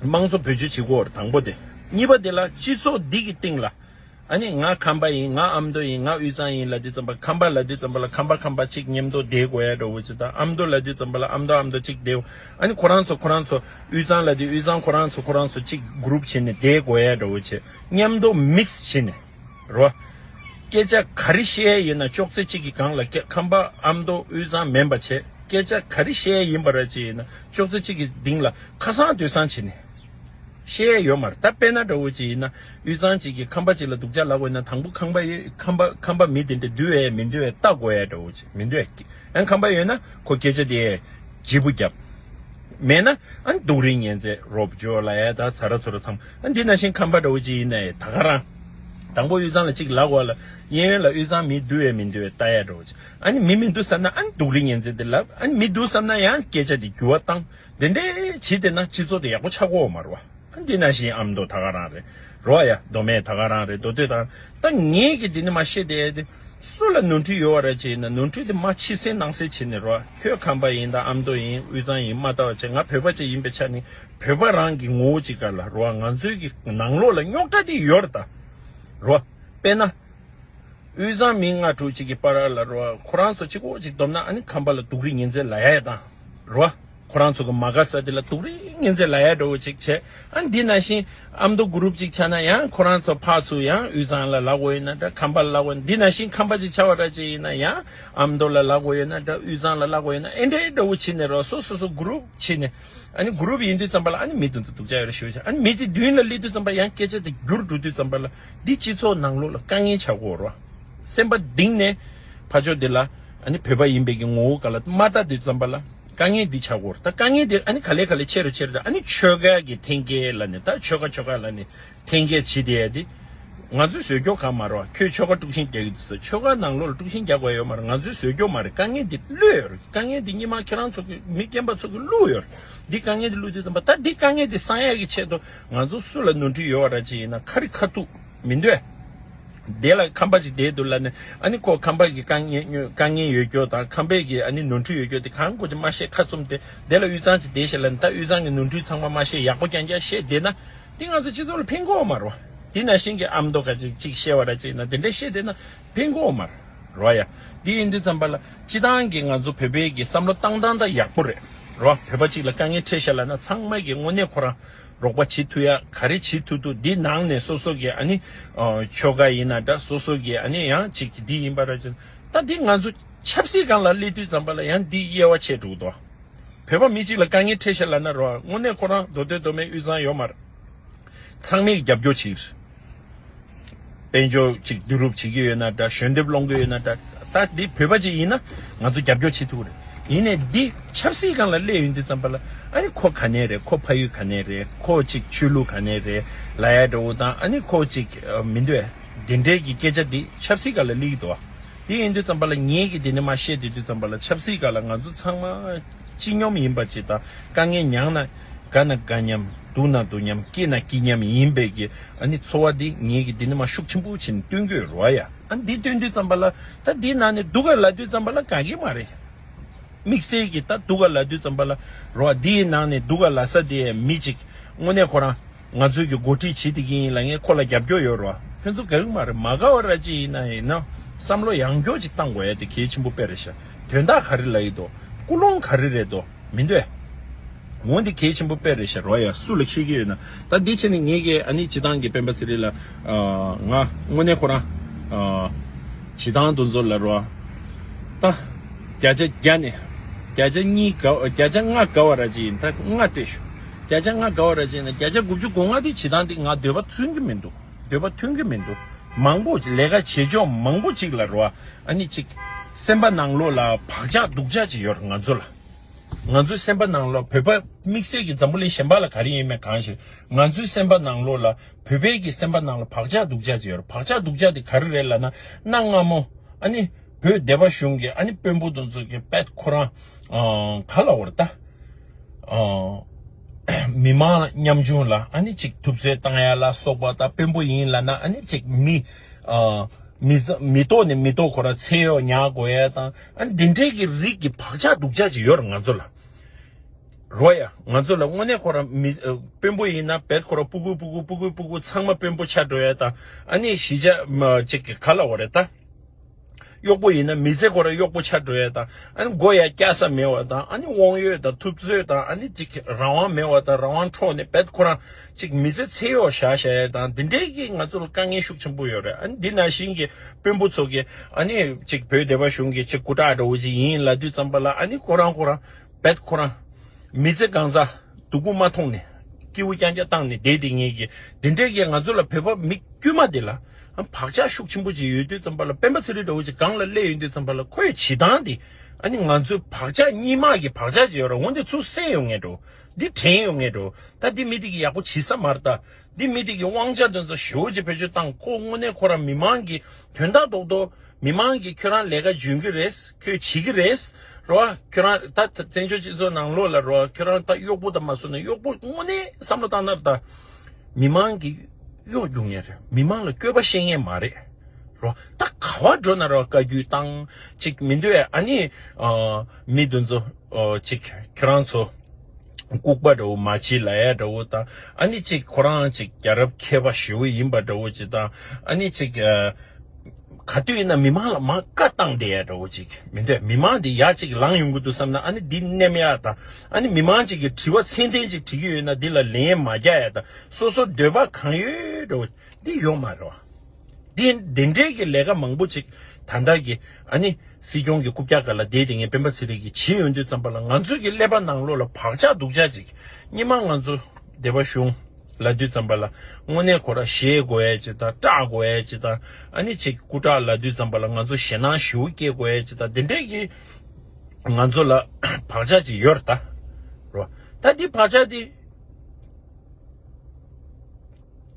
དམངས་གཙོ་བེད་སྤྱོད་བྱེད་དགོས་བར་དང་པོ་དེ། གཉིས་པ་དེ་ལ་སྤྱི་ཚོགས་འདི་གི་སྟེང་ལ། ཨ་ནི་ང་ཁམས་པ་ཡིན་ང་ཨ་མདོ་ཡིན་ང་དབུས་གཙང་ཡིན་ལ་དེ་ཙམ་པ་ཁམས་པ་ལ་དེ་ཙམ་པ་ལ་ཁམས་པ་ཁམས་པ་ཅིག་ཉེ་མདོ་དེའི་སྒོ་ཡ་འགྲོ་བོ་ཅིག་དང་ཨ་མདོ་ལ་དེ་ཙམ་པ་ལ་ཨ་མདོ་ཨ་མདོ་ཅིག་དེའི་ཨ་ནི་ཁོ་རང་ཚོ་ཁོ་རང་ཚོ་དབུས་གཙང་ལ་དེ་དབུས་གཙང་ཁོ་རང་ཚོ་ཁོ་རང་ཚོ་ཅིག་གུརུབ་བྱེད་ནས་དེའི་སྒོ་ཡ་འགྲོ་བོ་ཅིག་མཉམ་མདོ་མིག་བྱེད་ནས་རོ། སྐད་ཆ་ག་རི་བཤད་ཡ་ཡིན་ན་ཅོག་ཙེ་ཅིག་གི་སྒང་ལ་སྐད་ཁམས་པ་ཨ་མདོ་དབུས་གཙང་མེན་པ་བྱེད་སྐད་ཆ་ག་རི་བཤད་ཡ་ཡིན་པ་ར་ཅིག་ཡིན་ན་ཅོག་ཙེ་ཅིག་གི་སྡིང་ལ་ཁ་སང་དུས་སང་བྱེད་ནས། ཤེས་ཡ་ཡོད་མར་ད་དཔེ་ན་དགྲ་བོ་གཅིག་ཡིན་ན་དབུས་གཙང་གཅིག་གིས་ཁམས་པ་གཅིག་ལ་དུག་ཆ་ལག་འོས་ན་དང་པོ་ཁམས་པ་ཡིས་ཁམས་པ་ཁམས་པ་མི་དེ་འདྲ་འདུལ་འོས་མི་འདུལ་འོས་བལྟ་དགོས་ཡ་དགྲ་བོ་གཅིག་མི་འདུལ་འོས་ཨན་ཁམས་པ་ཡོད་ན་ཁོ་སྐད་ཆ་དེ་ལྗིད་པོ་རྒྱབ། མེད་ན་ཨན་དུག་རིགས་ངན་ཚད་རོབ་བརྗོད་ལ་ཡ་ད་ཚ་ར་ཚོ་ར་འཚམ་ཨན་འདི་ན་བཞིན་ཁམས་པ་དགྲ་བོ་གཅིག་ཡིན་ན་ཡ་ད་ག་རང། དང་པོ་དབུས་གཙང་ལ་གཅིག་ལག་འོས་ལ་གཡས་གཡོན་ལ་དབུས་གཙང་མི་འདུལ་འོས་མི་འདུལ་འོས་བལྟ་ཡ་དགྲ་བོ་གཅིག་ཨན་མི་མི་འདུལ་བསམ་ན་ཨན་དུག་རིགས་ངན་ཚད་དེ་ལབ་ཨན་མི་འདུལ་བསམ་ན་ཡ་ཨན་སྐད་ཆ་དེ་འགྱུར་བ་བཏང། འདི་འདྲའི་བྱིས་དེ་ན་སྤྱི་ཚོགས་དེ་ཡག་པོ་ཆགས་གོ་མ་རོ། འདི་ན་བཞིན་ཨམ་མདོ་ད་ག་རང་རེད། རོ་ཨ་ཡ་མདོ་སྨད་ད་ག་རང་རེད་མདོ་སྟོད་ད་ག་རང་ད་ངས་ཀྱི་འདི་ནས་མ་ཤེས་དེ་དེ། སུ་ལ་ནོར་འཁྲུལ་ཡོད་བ་ར་བྱེད་ན་ནོར་འཁྲུལ་དེ་མ་ཕྱི་སེ་ནང་སེ་བྱེད་ནས་རོ་ཨ་ཁྱོད་ཁམས་པ་ཡིན་ད་ཨམ་མདོ་ཡིན་དབུས་གཙང་ཡིན་མ་ལྟ་བ་བྱེད་ང་བོད་པ་ཅིག་ཡིན་པའི་ཆ་ནས་བོད་པ་རང་གི་ངོ་བོ་ཅིག་ག་ལ་རོ་ཨ་ང་ཚོའི་གི་ནང་ལོགས་ལ་རྙོག་དྲ་དེ་ཡོད་ར་ད། རོ་ཨ་དཔེ་ན། དབུས་གཙང་མི་ལྔ་དྲུག་ཅིག་གི་པ་ར་ལ་རོ་ཨ་ཁོ་རང་ཚོ་གཅིག་གོ་གཅིག་སྡོམ་ན་ཨ་ནི་ཁམས་པ་ལ་སྡུག་རི་ཉིན་མཚན་ལ་ཡ་ཡ་དང། རོ། ཁོ་རང་ཚོ་གི་མ་ག་ས་དེ་ལ་དུག་རིགས་ངན་ཚད་ལ་ཡ་འགྲོ་བོ་ཅིག་བྱས། ཨ་འདི་ན་བཞིན་ཨ་མདོ་གུ་རུབ་ཅིག་ཆ་ན་ཡང་ཁོ་རང་ཚོ་ཕག་ཚུ་ཡང་དབུས་གཙང་ལ་ལག་འོ་ཡོད་ན་འདྲ་ཁམས་པ་ལ་ལག་འོ་འདི་ན་བཞིན་ཁམས་པ་ཅིག་ཆ་བ་འདྲ་བྱས་ཡིན་ན་ཡང་ཨ་མདོ་ལ་ལག་འོ་ཡོད་ན་འདྲ་དབུས་གཙང་ལ་ལག་འོ་ཡོད་ན་ཨེ་འདྲ་ཨེ་འདྲ་བོ་བྱས་ནས་རོ་སོ་སོ་སོ་གུ་རུབ་བྱས་ནས་ཨ་ནི་གུ་རུབ་ཡིན་དུས་ཙམ་པ་ལ་ཨ་ནི་མི་བདུན་ཚོ་དུག་ཆ་ཡོད་རེ་ཞུ་བ་བྱས་ཨ་ནི་མི་དེ་བདུན་ལ་སླེབས་དུས་ཙམ་པ་ཡང་སྐད་ཆ་དེ་རྒྱུར་འགྲོ་དུས་ཙམ་པ་ལ། འདི་སྤྱི་ཚོགས་ནང་ལོག་ལ་དཀའ་ངལ་ཆགས་སྒོ་རུ་སེམས་པ་གདིང་ནས་ཕ་ཕྱོགས་འདི་ལ་བོད་པ་ཡིན་པའི་གི་ངོ་བོ་ག་ལ་མ་ལྟ་དེ་ཙམ་པ་ལ་དཀའ་ངལ་འདི་ཆགས་སྒོ་རུ་ད་དཀའ་ངལ་འདི་ག་ལས་ག་ལས་ཆེ་རུ་ཆེ་རུ་ད་ཆོལ་ཁ་གི་འཐེན་འཁྱེར་ལ་ནི་ད་ཆོལ་ཁ་ཆོལ་ཁ་ལ་ནི་འཐེན་འཁྱེར་བྱེད་དེ་ཡ་དེ་ང་ཚོའི་ཟོལ་སྐྱོག་གང་མ་རུ་ཨ་ཁྱོད་ཆོལ་ཁ་དཀྲུགས་ཤིང་རྒྱག་གི་འདུག་ཟེར་ཆོལ་ཁ་ནང་ལོག་ལ་དཀྲུགས་ཤིང་རྒྱག་པ་ཡོད་མ་རུ་ང་ཚོའི་ཟོལ་སྐྱོག་མ་རེད་དཀའ་ངལ་འདི་བླུས་ཡོད་རེད་དཀའ་ངལ་འདི་སྙིགས་མ་ཁྱེད་རང་ཚོ་གི་མི་རྒན་པ་ཚོ་གི་བླུས་ཡོད་རེད་འདི་དཀའ་ངལ་འདི་བླུས་དེ་ཙམ་པ་ད་འདི་དཀའ་ངལ་འདི་གསང་ཡག་གི་ཆེད་དུ། ང་ཚོ་སུ་ལ་ནོར་འཁྲུལ་ཡོད་བ་ར་ཅིག་ཡིན་ན་ཁ་རི་ཁ་ཐུག་མི་འདོད། དེ་ལ་ཁམས་པ་ཅིག་དེའི་དུར་ལ་ནི་ཨ་ནི་ཁོ་ཁམས་པ་གི་དཀའ་ངལ་ཡོད་སྐྱོ་དང་ཁམས་པའི་གི་ཨ་ནི་ནོར་འཁྲུལ་ཡོད་སྐྱོ་དེ་གང་དགོས་ཅིག་མ་ཤེས་ཁ་ཚུམས་ཏེ་དེ་ལ་དབུས་གཙང་ཅིག་དེ་ཞིག་ལ་ནི་ད་དབུས་གཙང་གི་ནོར་འཁྲུལ་ཚང་མ་མ་ཤེས་ཡག་པོ་རྐྱང་རྐྱང་ཤེས་བསྡད་ན་དེ་ང་ཚོ་སྤྱི་ཚོགས་ལ་ཕན་གོ་བ་མ་རོ། དེ་ན་ཤིང་གི་ཨ་མདོ་ཁ་ཅིག་ཅིག་ཤེས་བ་ར་ཅིག་ཡིན་ན་དེ་འདྲ་ཤེས་བསྡད་ན་ཕན་གོ་བ་མ་རོ། ཡ། དེ་ཡིན་དུས་ཙམ་པ་ལ་སྤྱི་སྟངས་གི་ང་ཚོ་བོད་པའི་གི་བསམ་བློ་བཏང་སྟངས་ད་ཡག་པོ་རེད་རོ། བོད་པ་ཅིག་ལ་དཀའ་ངལ་འཕྲད་ཤེས་ལ་ན་ཚང་མ་གི་དངོས་གནས་ཁོ་རང། རོགས་པ་བྱེད་ཐུ་ཡ་ག་རེ་བྱེད་ཐུ་ཐུ་འདི་ནང་ནས་སོ་སོ་གི་ཨ་ནི་ཆོལ་ཁ་ཡིན་ན་འདྲ་སོ་སོ་གི་ཨ་ནི་ཡང་ཅིག་གི་འདི་ཡིན་པ་ར་ཅན་ད་འདི་ང་ཚོ་ཆབ་སྲིད་སྒང་ལ་སླེབས་དུས་ཙམ་པ་ལ་ཡང་འདི་དབྱེ་བ་ཕྱེ་དྲུག་ཏོ་བོད་པ་མི་གཅིག་ལ་དཀའ་ངལ་འཕྲད་ཤེས་ལ་ན་རོ་ཨ་དངོས་གནས་ཁོ་རང་མདོ་སྟོད་མདོ་སྨད་དབུས་གཙང་ཡོ་མར་ཚང་མས་རྒྱབ་སྐྱོ་བྱེད་དཔལ་འབྱོར་གཅིག་བསྡུ་རུབ་བྱེད་ཀྱི་ཡོད་ན་འདྲ་ཞོན་འདེབས་སློང་གི་ཡོད་ན་འདྲ་ད་འདི་བོད་པ་ཅིག་ཡིན་ན་ང་ཚོ་རྒྱབ་སྐྱོར་བྱེད་ཐུབ་ཀྱི་རེད་ཡིན་ནས་འདི་ཆབ་སྲིད་གང་ལ་སླེབས་ཡོད་འདི་ཙམ་པ་ལ་ཨ་ནི་ཁོ་ག་ནས་རེད་ཁོ་ཕ་ཡུལ་ག་ནས་རེད་ཁོ་གཅིག་ཆོས་ལུགས་ག་ནས་རེད་ལ་ཡ་འདྲ་བོ་དང་ཨ་ནི་ཁོ་གཅིག་མི་འདོད་འདི་འདྲས་ཀྱི་སྐད་ཆ་འདི་ཆབ་སྲིད་ག་ལ་སླེབས་ཡོད་འདི་ཡིན་འདི་ཙམ་པ་ལ་ངེད་ཀྱིས་འདི་ནས་མ་བཤད་དེ་འདི་ཙམ་པ་ལ་ཆབ་སྲིད་ག་ལ་ང་ཚོ་ཚང་མ། ཅི་སྙོམས་ཡིན་པ་ཅི་དང་དཀའ་ངལ་མྱངས་ན་དགའ་ན་དགའ་མཉམ་སྡུག་ན་སྡུག་མཉམ་སྐྱིད་ན་སྐྱིད་མཉམ་ཡིན་པས་ཀྱི་ཨ་ནི་འཚོ་བ་འདི་ངེད་ཀྱི་འདི་ནི་མ་ཤུགས་ཆེན་པོ་བྱིན་བསྟུན་དགོས་རོ་ཡ། ཨ་འདི་སྟོན་དུས་ཙམ་པ་ལ་ད་འདི་ནང་ནས་སྡུག་ག་ལ་དུས་ཙམ་པ་ལ་དགའ་གི་མ་རེད། དམིགས་བསལ་གྱི་ད་སྡུག་ག་ལ་དུས་ཙམ་པ་ལ་རོ་ཨ་འདིའི་ནང་ནས་སྡུག་ག་ལ་ས་དེ་མི་གཅིག་དངོས་གནས་ཁོ་རང་ང་ཚོས་ཀྱི་འགོ་ཁྲིད་ཇི་དེ་གིན་ཡིན་ལ་ངས་ཁོ་ལ་རྒྱབ་སྐྱོར་ཡོད་རོ། ཁྱོད་ཚོ་ག་གི་མ་རེད་མ་ག་བ་ར་ཅི་ཡིན་ན་ཡིན་ནོ། བསམ་བློ་ཡང་མགྱོགས་ཅིག་བཏང་དགོས་ཡ་དེ་གལ་ཆེན་པོ་དཔེ་རེད་ཤ་དོན་དག་ག་རེ་ལ་ཡིད་དོ། ཀུ་ལོང་ག་རེ་རེད་དོ་མི་འདོད། འོན་ཏེ་གལ་ཆེན་པོ་དཔེ་རེད་ཤ་རོ་ཡ་སུ་ལ་ཤེས་ཀྱི་ཡོད་ན་ད་འདི་བྱས་ནས་ངས་ཀྱི་ཨ་ནི་སྤྱི་བཏང་གི་སྤེན་པ་ཟེ་རེད་ལ། ང་དངོས་གནས་ཁོ་རང། སྤྱི་བཏང་དུ་འཛོ་ལ་རོ། ད། བརྒྱ་ཆ་བརྒྱ་ནས། བརྒྱ་ཆ་གཉིས་ག་བརྒྱ་ཆ་ལྔ་ག་བ་ར་ཅི་ཡིན་ད་ང་སྤྲད་ཞུ། བརྒྱ་ཆ་ལྔ་དགའ་བ་ར་ཅན་ནས་བརྒྱ་ཆ་དགུ་བཅུ་གོ་ལྔ་དེ་བྱེད་སྟངས་འདི་ང་འདོད་པ་མཐུན་གྱི་མི་འདུག་འདོད་པ་མཐུན་གྱི་མི་འདུག་མང་པོ་ལས་ཀ་བྱེད་ཕྱོགས་མང་པོ་གཅིག་ལ་རོ་ཨ་ནི་གཅིག། སེམས་པ་ནང་ལོག་ལ་བག་ཆགས་སྡུག་ཆགས་ཅིག་ཡོད་རེད་ང་ཚོ་ལ། ང་ཚོའི་སེམས་པ་ནང་ལོག་བོད་པ་དམིགས་བསལ་གྱི་འཛམ་བུ་གླིང་གཞན་པ་ལ་ག་རེ་ཡིན་མིན་གང་ཞིག་ང་ཚོའི་སེམས་པ་ནང་ལོག་ལ་བོད་པའི་གྱི་སེམས་པ་ནང་ལ་བག་ཆགས་སྡུག་ཆགས་ཅིག་ཡོད་རེད་བག་ཆགས་སྡུག་ཆགས་དེ་ག་རེ་རེད་ལ་ན་གནའ་སྔ་མོ་ཨ་ནི་བོད་སྡེ་བ་གཞུང་གི་ཨ་ནི་དཔོན་པོ་དོན་གཙོ་གྱི་པད་ཁོ་རང་ག་ལ་འོར་ད། མི་མང་ཉམས་ཆུང་ལ་ཨ་ནི་ཅིག་ཐུབ་ཚོད་བཏང་ཡ་ལ་སོགས་པ་ད་དཔོན་པོ་ཡིན་ལ་ན་ཨ་ནི་ཅིག་མི་མི་ཏོག་ནས་མི་ཏོག་གོ་ར་ཚེ་ཡོག་ཉག་དགོ་ཡ་དང་ཨ་ནི་དེ་འདྲའི་གི་རིགས་ཀྱི་བག་ཆགས་སྡུག་ཆགས་ཅིག་ཡོད་ར་ང་ཚོ་ལ་རོ་ཡ་ང་ཚོ་ལ་དངོས་གནས་གོ་ར་མི་དཔོན་པོ་ཡིན་ན་བད་གོ་ར་སྤུ་གུ་སྤུ་གུ་སྤུ་གུ་སྤུ་གུ་ཚང་མ་དཔོན་པོ་ཆགས་འགྲོ་ཡ་དང་ཨ་ནི་གཞི་ཅག་ཅིག་གི་ག་ལ་འོ་རེད་ད། གཡོག་པོ་ཡིན་ན་མི་ཚེ་འཁོར་གཡོག་པོ་ཆགས་སྤྲོ་བས་དང་ཨ་ནི་མགོ་ཡ་སྐྱ་ས་མེད་བ་དང་ཨ་ནི་དབང་ཡོད་དང་ཐུབ་ཚོད་དང་ཨ་ནི་ཅིག་རང་དབང་མེད་བ་དང་རང་དབང་འཕྲོག་ནས་བེད་ཁོ་རང་ཅིག་མི་ཚེ་ཚེ་གཡོག་བཞག་བཞག་ཡས་དང་འདི་འདྲས་ཀྱིས་ང་ཚོ་ལ་དཀའ་ངལ་ཤུགས་ཆེན་པོ་ཡོད་རེད་ཨ་ནི་འདི་ནང་བཞིན་གྱི་དཔོན་པོ་ཚོ་གིས་ཨ་ནི་ཅིག་བོད་སྡེ་བ་གཞུང་གི་ཅིག་སྐུ་དྲག་འདྲ་བོ་ཅིག་ཡིན་ལ་དུས་ཙམ་པ་ལ་ཨ་ནི་ཁོ་རང་ཁོ་རང། བད་ཁོ་རང། མི་ཚེ་གང་ཟག་སྡུག་པོ་མ་མཐོང་ནས། སྐྱེ་བོ་རྐྱང་རྐྱང་བཏང་ནས་བསྡད་དེ་ངེས་ཀྱི། འདི་འདྲའི་ཡས་ང་ཚོ་ལ་བོད་པ་མི་དཀྱུས་མ་དེ་ལ། བག་ཆགས་ཤུགས་ཆེན་པོ་ཅིག་ཡོད་དུས་ཙམ་པ་ལ་སྤེན་པ་ཚེ་རིང་འདྲ་བོ་ཅིག་སྒང་ལ་གླས་ཡོད་དུས་ཙམ་པ་ལ་ཁོས་བྱེད་སྟངས་དེ། ཨ་ནི་ང་ཚོའི་བག་ཆགས་གཉིས་དམག་གི་བག་ཆགས་ཅིག་ཡོད་ར་འོན་ཏེ་ཚུར་བསད་ཡོང་ངེས་འགྲོ། འདི་དྲན་ཡོང་ངེས་འགྲོ། ད་འདི་མི་དེ་གི་ཡག་པོ་བྱེད་ས་མ་རེད་ད། འདི་མི་དེ་གི་དབང་ཆ་དོན་ཚོ་ཞེ་བོ་ཅིག་བེད་སྤྱོད་བཏང་ཁོ་དངོས་གནས་ཁོ་རང་མི་དམངས་ཀྱི་དོན་དག་རྡོག་རྡོག། མི་མང་གིས་ཁྱོད་རང་ལས་ཀ་འཇོན་གི་རེད་ཁྱོད་བྱེད་གི་རེད་རོ་ཁྱོད་རང་ད་བཙན་བྱོལ་སྤྱི་ཚོགས་ནང་ལོག་ལ་རོ་ཁྱོད་རང་ད་གཡོག་པོ་ད་མ་བཟོ་ནས་གཡོག་པོ་དངོས་གནས་བསམ་བློ་བཏང་ན་ད་མི་མང་གིས་གཡོག་རྒྱུག་ངེས་རེད་མི་མང་ལ་བསྐྱོད་པ་བཤད་ངེས་མ་རེད་རོ་ད་ག་བ་འགྲོ་ན་རོ་བཀའ་རྒྱུད་བཏང་ཅིག་མི་འདོད་ཨ་ནི་མི་འདི་ཚོ་ཅིག་ཁྱོད་རང་ཚོ་ལྐུག་པ་འདྲ་བོ་མ་བྱི་ལ་ཡ་འདྲ་བོ་ད་ཨ་ནི་ཅིག་ཁོ་རང་ཅིག་རྒྱ་རབ་མཁས་པ་ཞེ་བོ་ཡིན་པ་འདྲ་བོ་ཅིག་ད་ཨ་ནི་ཅིག། ག་དུས་ཡིན་ན་མི་མང་ལ་མ་བཀའ་བཏང་སྟེ་ཡག་འདྲ་བོ་ཅིག་མི་འདོད་མི་མང་འདི་ཡག་ཅིག་ལང་ཡོང་གི་འདུག་བསམ་ན་ཨ་ནི་འདི་སྣེ་མ་ཡག་དང་ཨ་ནི་མི་མང་ཅིག་གི་དྲི་བ་ཚད་ལྡན་ཅིག་དྲི་གི་ཡོད་ན་འདི་ལ་ལན་མ་རྒྱག་ཡག་དང་སོ་སོ་འདོད་པ་གང་ཡོད་འདྲ་བོ་འདི་ཡོད་མ་རེད་བ། འདི་འདི་འདྲས་ཀྱི་ལས་ཀ་མང་པོ་ཅིག་ད་ལྟ་གི་ཨ་ནི་སྲིད་སྐྱོང་གི་རྐུབ་བཀྱག་ག་ལ་བསྡད་དེ་ངས་སྤེན་པ་ཚེ་རིང་གིས་བྱིན་ཡོང་དུས་ཙམ་པ་ལ་ང་ཚོ་གི་ཀླད་པ་ནང་ལོག་ལ་བག་ཆགས་སྡུག་ཆགས་ཅིག་སྙི་མ་ང་ཚོ་བདེ་བ་གཞུང། ལ་དུས་བརྩམས་པ་ལ་དངོས་གནས་གོ་ར་བཞེས་དགོས་ཨེ་ཅི་དང་སྐྲག་དགོས་ཨེ་ཅི་དང་ཨ་ནི་ཆེ་གི་སྐུ་དྲག་ལ་དུས་བརྩམས་པ་ལ་ང་ཚོ་ཞེད་སྣང་ཞེ་བོ་སྐྱེས་དགོས་ཨེ་ཅི་དང་དེ་འདྲས་ཀྱི་ང་ཚོ་ལ་བག་ཆགས་ཅིག་ཡོད་ར་ད་རོ། ད་འདི་བག་ཆགས་འདི་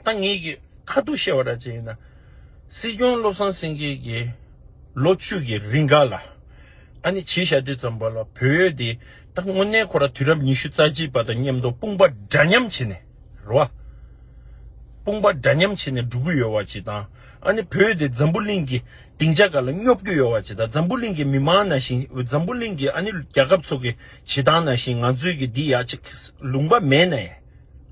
ད་ངེད་ཀྱི་ཁ་ཐུག་བཤད་པ་ར་ཅིག་ཡིན་ན། སྲིད་སྐྱོང་བློ་བཟང་སེང་གེ་ཀྱིས་ལོ་བཅུ་ཡི་རིང་འགའ་ལ་ཨ་ནི་བྱིས་ཞག་དུས་བརྩམས་པ་ལ་བོད་ཡོད་འདི། ད་དངོས་གནས་ཁོ་རང་དུས་རབས་ཉི་ཤུ་རྩ་གཅིག་པ་དང་མཉམ་དུ་དཔུང་པ་འདྲ་མཉམ་བྱེད་ནས་རེད། དཔུང་པ་འདྲ་མཉམ་བྱེད་ནས་འགྲོ་གི་ཡོད་བ་བྱེད་དང། ཨ་ནི་བོད་དེ་འཛམ་བུ་གླིང་གི་སྡིངས་ཆ་ག་ལ་སྙོབ་རྒྱུ་ཡོད་བ་བྱེད་དང་འཛམ་བུ་གླིང་གི་མི་དམངས་ནང་བཞིན་འཛམ་བུ་གླིང་གི་ཨ་ནི་རྒྱལ་ཁབ་ཚོ་གི་བྱེད་སྟངས་ནང་བཞིན་ང་ཚོས་གི་འདི་ཡག་ཅིག་ལུང་པ་མེད་ནའི་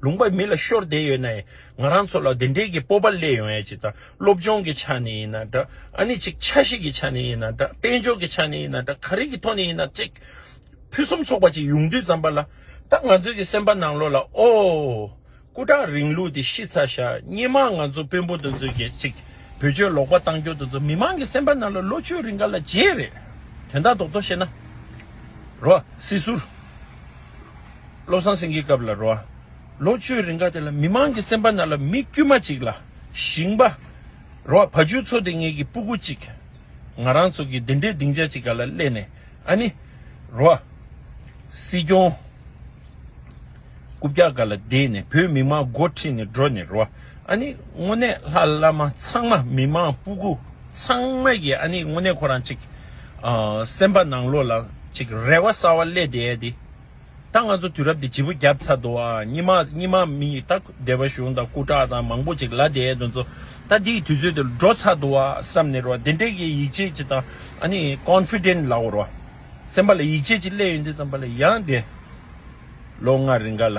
ལུང་པ་མི་ལ་ཤོར་བསྡད་ཡོད་ནའི་ང་རང་ཚོ་ལ་དེ་འདྲའི་གི་སྤོབས་པ་སླེབས་ཡོང་ཡ་བྱེད་དང་སློབ་སྦྱོང་གི་ཆ་ནས་ཡིན་ན་འདྲ་ཨ་ནི་ཅིག་ཆ་ཞིག་གི་ཆ་ནས་ཡིན་ན་འདྲ་དཔལ་འབྱོར་གི་ཆ་ནས་ཡིན་ན་འདྲ་ག་རེ་གི་ཐོག་ནས་ཡིན་ན་ཅིག། ཕུན་སུམ་ཚོགས་པ་ཅིག་ཡོང་དུས་བརྩམས་པ་ལ། ད་ང་ཚོའི་གི་སེམས་པ་ནང་ལོག་ལ་ཨོ། སྐུ་དྲག་རིང་ལུགས་དེ་ཤི་ཚར་ཤག་སྙེ་མ་ང་ཚོ་དཔོན་པོ་དེ་ཚོས་ཀྱི་ཅིག་བོད་ཆོས་ལོག་པ་བཏང་སྐྱོ་དེ་ཚོ་མི་མང་གི་སེམས་པ་ནང་ལ་ལོ་བཅུ་རིང་ག་ལ་བརྗེད་རེད་དོན་དག་རྡོག་རྡོག་བཤད་ན། རོ། སྲིད་ཟུར། བློ་བཟང་སེང་གེའི་སྐབས་ལ་རོ། ལོ་བཅུ་རིང་ག་དེ་ལ་མི་མང་གི་སེམས་པ་ནང་ལ་མི་དཀྱུས་མ་ཅིག་ལ་ཞིང་པ། རོ། བ་ཇུ་ཚོ་དེ་ངེད་ཀྱི་སྤུ་སྒུ་ཅིག། ང་རང་ཚོ་གི་དེ་འདྲའི་སྡིངས་ཆ་ཅིག་ག་ལ་གླས་ནས། ཨ་ནི། རོ། སྲིད་སྐྱོང། རྐུབ་བཀྱག་ག་ལ་བསྡད་ནས་བོད་མི་མང་མགོ་ཁྲིད་ནས་འགྲོ་ནི་རོ། ཨ་ནི། དངོས་གནས་ལྷ་བླ་མ་ཚང་མ་མི་མང་སྤུ་གུ་ཚང་མ་ཡི་ཨ་ནི་དངོས་གནས་ཁོ་རང་ཅིག་སེམས་པ་ནང་ལོག་ལ་ཅིག་རེ་བ་གསར་བ་གླས་བསྡད་དེ། ད་ང་ཚོ་དུས་རབས་འདི་བྱིས་པོ་རྒྱབ་ཚ་འདུག་ཨ་རྙི་མ་རྙི་མ་མི་ཡི་ད་སྡེ་བ་གཞུང་དང་སྐུ་དྲག་དང་མང་པོ་ཅིག་ལ་དེ་དོན་ཚོ་ད་འདི་ཡི་དུས་ཚོད་འདིར་འགྲོ་ཚ་འདུག་ཨ་བསམ་ནི་རོ་དེ་འདྲེ་གི་ཡིད་ཆེས་ཅི་དང་ཨ་ནི Confident ལའོ་རོ་སེམས་པ་ལ་ཡིད་ཆེས་ཅི་སླེ་ཡོད་འདི་ཙམ་པ་ལ་ཡང་དེ་ལོ་ལྔ་རི་འགའ་ལ།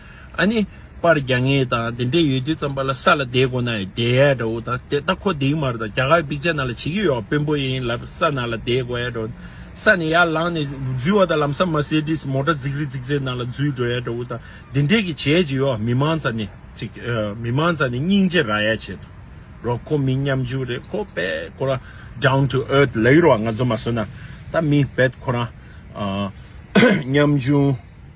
ཨ་ནི། པར་རྒྱག་ངེས་དང་དེ་འདྲས་ཡོད་དུས་ཙམ་པ་ལ་ས་ལ་བསྡད་དགོ་ན་ཡི་བསྡད་ཡས་འདྲ་བོ་དང་དེ་ལྟ་ཁོ་དེའི་མར་དང་རྒྱ་གར་པིག་ཅར་ནང་ལ་བྱེད་ཀྱི་ཡོད་བ་དཔོན་པོ་ཡིན་ལབ་ས་ནང་ལ་བསྡད་དགོ་ཡས་འདྲ་བོ་ས་ནས་ཡར་ལངས་ནས་འཛུལ་བ་དང་ལམ་སང་མར་སེ་ཏིས་མོ་ཏྲ་རྫིག་རི་རྫིག་རྫིག་ནང་ལ་འཛུལ་འགྲོ་ཡས་འདྲ་བོ་དང་དེ་འདྲས་ཀྱི་བྱས་ཀྱི་ཡོད་བ་མི་མང་ཙ་ནས་ཅིག་མི་མང་ཙ་ནས་སྙིང་རྗེ་ར་ཡས་བྱེད་དུ་རོགས་ཁོ་མི་ཉམས་ཆུང་རེད་ཁོ་བལ་ཁོ་རང down to earth ལ་ཡུར་བ་ང་ཚོ་མ་བཟོ་ན་ད་མི་བལ་ཁོ་རང་ཉམས་ཆུང།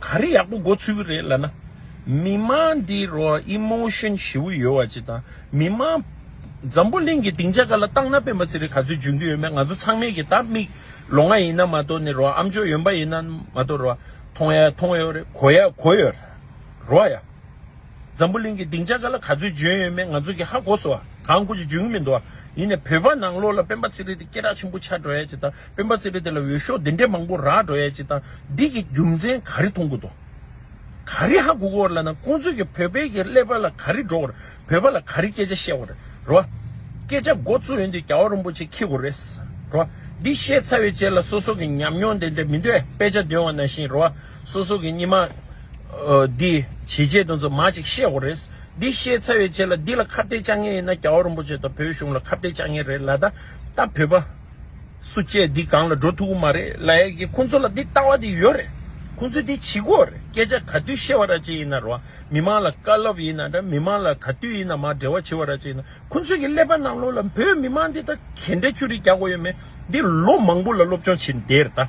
ག་རེ་ཡག་པོ་འགོ་ཚུགས་ཀྱི་རེད་ལ་ན། མི་དམངས་འདི་རོ Emotion ཞེ་བོ་ཡོད་བ་ཅིག་དང་མི་དམངས། འཛམ་བུ་གླིང་གི་སྡིངས་ཆ་ག་ལ་བཏང་ན་སྤེན་པ་ཚེ་རིང་ག་ཚོད་འཇོན་གྱི་ཡོད་མེད་ང་ཚོ་ཚང་མས་ཀྱི་ད་མིག་ལོ་ང་ཡིན་ན་མ་གཏོགས་ནི་རོ་ཨམ་ཅོག་ཡོན་པ་ཡིན་ན་མ་གཏོགས་རོ་མཐོང་ཡ་མཐོང་ཡོད་རེད་གོ་ཡ་གོ་ཡོད་རེད་རོ་ཡ། འཛམ་བུ་གླིང་གི་སྡིངས་ཆ་ག་ལ་ག་ཚོད་འབྱོན་ཡོད་མེད་ང་ཚོ་གིས་ཧ་གོ་སོ། གང་དགོས་ཀྱི་འབྱོན་གྱི་མི་འདུག་ཨ། ཡིན་ནས་བོད་པ་ནང་ལོགས་ལ་སྤེན་པ་ཚེ་རིང་དེ་སྐད་གྲགས་ཆེན་པོ་ཆགས་འགྲོ་ཡས་ཅི་དང་སྤེན་པ་ཚེ་རིང་དེ་ལ་འོས་ཤོག་དེ་འདྲས་མང་པོ་རག་འགྲོ་ཡས་ཅི་དང་འདི་གི་རྒྱུ་མཚན་ག་རེ་མཐོང་གི་འདུག་ག་རེ་ཧ་གོ་གི་འོར་ལ་ན་ཁོང་ཚོས་ཀྱི་བོད་པའི་གི་ཀླད་པ་ལ་ག་རེ་འགྲོ་འོར་བོད་པ་ལ་ག་རེ་སྐད་ཆ་བཤད་འོར་རེད་བ། སྐད་ཆ་མགོ་བཙུགས་ཡོད་འདི་རྒྱ་བ་རོན་པོ་ཆེ་ཁྱི་གོ་རེད་བ། འདི་བཤད་ཚར་ཡོད་ཅེས་ལ་སོ་སོ་གི་ཉམས་མྱོང་དེ་འདྲས་མི་འདོད་པས་དཔེ་ཆ་འདོན་བ་ན་བཞིན་རེད་བ། སོ་སོ་གི་སྙིགས་མ། འདི། ཇི་བྱས་དོན་རྫུན་མ་ཅིག་ཤེས་འོ་རེད། འདི་ཤེས་ཚར་བའི་རྗེས་ལ་འདི་ལ་ཁ་བརྡའི་དཔྱ་ངན་ཡིན་ན་རྒྱ་བོ་རིན་པོ་ཆེ་དང་བོད་གཞུང་ལ་ཁ་བརྡའི་དཔྱ་ངན་རེད་ལ་ད་ལྟ་བོད་པ། སུ་བཅས་འདི་སྒང་ལ་འགྲོ་ཐུབ་གི་མ་རེད་ལ་ཡ་གི་ཁོང་ཚོ་ལ་འདི་ལྟ་བ་དེ་ཡོད་རེད། ཁོང་ཚོས་འདི་བྱེད་གི་འོ་རེད་སྐད་ཆ་ག་དུས་བཤད་བ་ར་བྱེད་ཡིན་ན་རུང་མི་མང་ལ་དཀའ་སློབ་ཡིན་ན་འདྲ་མི་མང་ལ་ག་དུས་ཡིན་ན་མ་འབྲེལ་བ་བྱེད་བ་ར་བྱེད་ཡིན་ན་ཁོང་ཚོས་གི་ཀླད་པ་ནང་ལོག་ལ་བོད་མི་མང་འདི་ད་གན་འདྲ་ཆུ་རིས་རྒྱག་གོ་ཡོད་མེད་འདི་ལོ་མང་པོ་ལ་སློབ་སྦྱོང་བྱེད་འདེད་རེད་ད།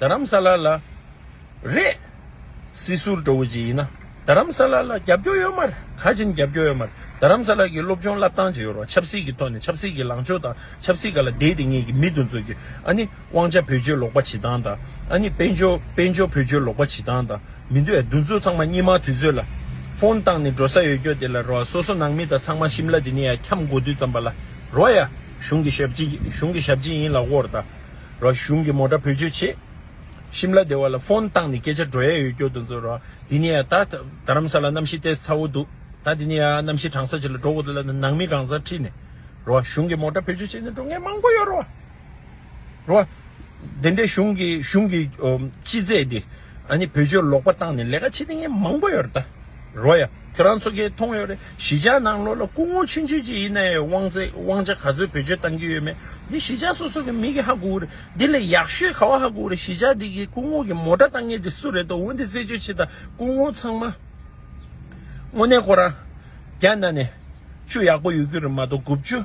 རྡ་རམ་ས་ལ་ལ། རེད། སྲིད་ཟུར་འདྲ་བོ་ཅིག་ཡིན་ན་རྡ་རམ་ས་ལ་ལ་རྒྱབ་སྐྱོར་ཡོད་མ་རེད་ག་བྱིན་རྒྱབ་སྐྱོར་ཡོད་མ་རེད་རྡ་རམ་ས་ལ་གི་སློབ་སྦྱོང་བསླབ་སྟངས་ཇི་ཡོད་རོགས་ཆབ་སྲིད་ཀྱི་ཐོག་ནས་ཆབ་སྲིད་ཀྱི་ལངས་ཕྱོགས་དང་ཆབ་སྲིད་ག་ལ་བདེ་བདེ་ངེས་ཀྱི་མི་དུ་འཛོལ་རྒྱུ་ཨ་ནི་དབང་ཆ་བེད་སྤྱོད་ལོག་པ་བྱེད་སྟངས་དང་ཨ་ནི་དཔལ་འབྱོར་དཔལ་འབྱོར་བེད་སྤྱོད་ལོག་པ་བྱེད་སྟངས་དང་མི་འདུག་ཨ་འདུ་འཛོལ་ཚང་མ་སྙེ་མ་དུས་ཚོད་ལ་ཕོན་བཏང་ནས་འགྲོ་ས་ཡོད་རྒྱོ་དེ་ལ་རོགས་ཨ་སོ་སོ་ནང་མི་དང་ཚང་མ་ཤིམ་ལ་དེ་ནས་ཡ་འཁྱམ་འགོ་དུས་ཙམ་པ་ལ་རོགས་ཡ་གཞུང་གི་ཞབས་ཕྱི་གཞུང་གི་ཞབས་ཕྱི་ཡིན་ལ་བོར་ད། རོགས་གཞུང་གི་མོ་འདྲ་བོད་ཆོས་བྱེད། ཤིམ་ལ་སྡེ་བ་ལ་ཕོན་བཏང་ནས་སྐད་ཆ་འགྲོ་ཡས་ཡོད་སྐྱོ་དུ་འཛོ་རོགས་དེ་ནས་ད་རྡ་རམ་ས་ལ་གནམ་གཤིས་ལྟས་ཚ་བོ་འདུག་ད་དེ་ནས་གནམ་གཤིས་གྲང་ས་ཆེ་ལ་འགྲོ་གོ་ཐུ་ལ་ནང་མི་གང་ཟག་ཁྲིད་ནས་རོགས་གཞུང་གི་མོ་འདྲ་བོད་ཆོས་བྱེད་ནས་འགྲོ་ངས་མང་པོ་ཡོད་རོགས། རོགས། དེ་འདྲས་གཞུང་གི་གཞུང་གི་སྤྱི་རྫས་དེ། ཨ་ནི་བོད་ཆོས་ལོག་པ་བཏང་ནས་ལས་ཀ་བྱེད་མཁན་མང་པོ་ཡོད་རེད་ད། རོ་ཡ། ཁྱོད་རང་ཚོ་ཁས་མཐོང་ཡོད་རེད་གཞིས་ཆགས་ནང་ལོག་ལ་སྐུ་ངོ་ཆུན་ཆོས་ཅིག་ཡིན་ན་ཡང་དབང་ཚད་དབང་ཆ་ག་ཚོད་བེད་སྤྱོད་བཏང་གི་ཡོད་མེད་འདི་གཞིས་ཆགས་སོ་སོ་གི་མི་གི་ཧ་གོ་གི་རེད་འདི་ལས་ཡག་ཤོས་ག་བ་ཧ་གོ་གི་རེད་གཞིས་ཆགས་འདི་གི་སྐུ་ངོ་གི་མོ་དྲ་བཏང་མཁན་དེ་སུ་རེད་དོ་འོན་ཏེ་རྩད་གཅོད་བྱེད་ད་སྐུ་ངོ་ཚང་མ་དངོས་གནས་ཁོ་རང་རྒྱ་ནག་ནས་ཅུ་ཡག་པོ་ཡོད་གི་རེད་མ་གཏོགས་དགུ་བཅུ།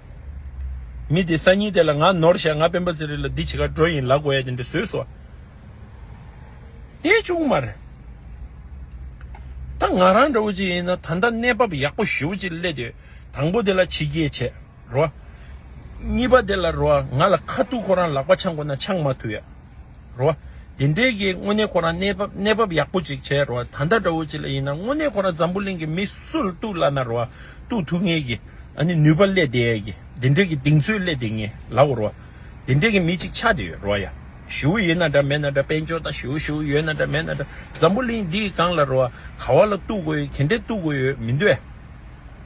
མི་དེས་སང་ཉིན་དེ་ལ་ང་ནོར་བཞག་ང་དཔོན་པོ་ཚེ་རིང་ལ་འདི་བྱེད་ཁར་འགྲོ་ཡིན་ལག་གོ་ཡ་དེ་འདྲ་བཟོས་སོ། དེ་ཅུང་མར། ད་ང་རང་འདྲ་བོ་ཅིག་ཡིན་ན་ད་ལྟ་གནས་བབ་ཡག་པོ་ཞེ་བོ་ཅིག་སླེབས་ཏེ་དང་པོ་དེ་ལ་ཕྱི་རྒྱལ་ཆས་རོགས། གཉིས་པ་དེ་ལ་རོགས་ང་ལ་ཁ་ཐུག་ཁོ་རང་ལག་པ་འཆང་དགོས་ན་འཆང་མ་ཐུབ་ཡ། རོ། དེ་འདྲའི་གི་དངོས་གནས་ཁོ་རང་གནས་བབ་ཡག་པོ་ཅིག་བྱས་རོ། ད་ལྟ་འདྲ་བོ་ཅིག་ལ་ཡིན་ན་དངོས་གནས་ཁོ་རང་འཛམ་བུ་གླིང་གི་མི་སུ་ལ་གཏུག་སླ་ན་རོ། གཏུག་ཐུབ་ངེས་གི། ཨ་ནི་ནུས་པ་བསླད་བསྡད་ཡས་གི། དེ་འདྲའི་གི་གདིང་ཚོད་བསླད་བསྡད་ངེས་ལའོ་རོ། དེ་འདྲའི་གི་མི་ཅིག་ཆགས་བསྡད་ཡོད་རོ། ཡ། ཞུའུ་ཡིན་ན་འདྲ་མེད་ན་འདྲ་དཔལ་འབྱོར་དང་ཞུའུ་ཞུའུ་ཡོད་ན་འདྲ་མེད་ན་འདྲ་འཛམ་བུ་གླིང་འདིའི་སྒང་ལ་རོ། ག་བ་ལ་གཏུག་དགོས་ཡོད་གན་དྲེ་གཏུག་དགོས་ཡོད་མི་འདོད།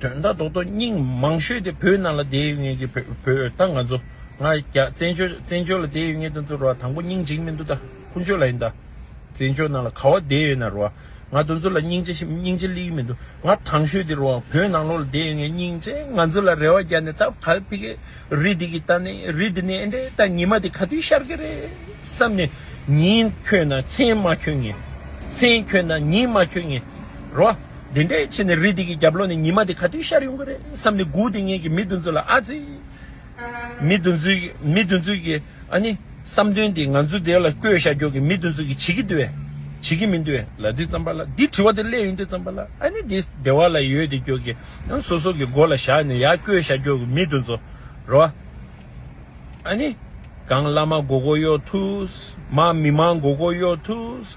དོན་དག་རྡོག་རྡོག་སྙིང་མང་ཤོས་དེ་བོད་ནང་ལ་བསྡད་ཡོད་ངེས་ཀྱི་བོད་ད་ང་ཚོ་ང་རྒྱ་བཙན་བྱོལ་བཙན་བྱོལ་ལ་བསྡད་ཡོད་ངེས་དོན་ཚོ་རུ་བ་དང་པོ་སྙིང་འཇིགས་མི་འདུག་ད་ཀུན་སྤྱོད་ལ་ཡིན་ད་བཙན་བྱོལ་ནང་ལ་ག་བ་བསྡད་ཡོད་ན་རུ་བ་ང་དོན་ཚོ་ལ་སྙིང་རྗེ་སྙིང་རྗེ་གླིག་མི་འདུག་ང་དང་ཤོས་དེ་རུ་བ་བོད་ནང་ལོག་ལ་བསྡད་ཡོད་ངེས་སྙིང་རྗེ་ང་ཚོ་ལ་རེ་བ་རྒྱ་ནས་ད་ག་ལ་ཕི་གེ་རི་དེ་གི་ད་ནི་རི་དེ་ནི་ཨེ་འདྲེ་ད་ཉི་མ་དེ་ག་དུས་ཤར་གི་རེད་བསམ་ནས་ཉིན་འཁྱོལ་ན་མཚན་མ་འཁྱོལ་ངེས་མཚན་འཁྱོལ་ན་ཉིན་མ་འཁྱོལ་ངེས་རུ་བ། དེ་འདྲའི་ཆེ་ནས་རི་དེ་གི་རྒྱབ་ལོགས་ནས་ཉི་མ་དེ་ག་དུས་ཤར་ཡོང་གི་རེད་བསམ་ནས་སྒུག་དེ་ངེད་ཀྱི་མི་བདུན་ཚོ་ལ་ཨ་ཙི། མི་བདུན་ཚོའི་མི་བདུན་ཚོའི་གི་ཨ་ནི། བསམ་དོན་དེ་ང་ཚོ་དེ་ལ་བསྐོས་བཞག་རྒྱོག་གི་མི་བདུན་ཚོ་གི་བྱེད་ཀྱི་འདུག་བས། བྱེད་ཀྱི་མི་འདུག་བས་ལ་དེ་བརྩམས་པ་ལ་དེ་དྲི་བ་དེ་སླད་ཡོད་འདུག་བརྩམས་པ་ལ་ཨ་ནི་དེ་སྡེ་བ་ལ་ཡོད་དེ་རྒྱོག་གི་ཨ་སོ་སོ་གི་མགོ་ལ་བཞག་ནས་ཡ་བསྐོས་བཞག་རྒྱོག་གི་མི་བདུན་ཚོ་རོ། ཨ་ནི། གངས་བླ་མ་མགོ་སྐོར་གཡོག་ཐུགས། མ་མི་མང་མགོ་སྐོར་གཡོག་ཐུགས།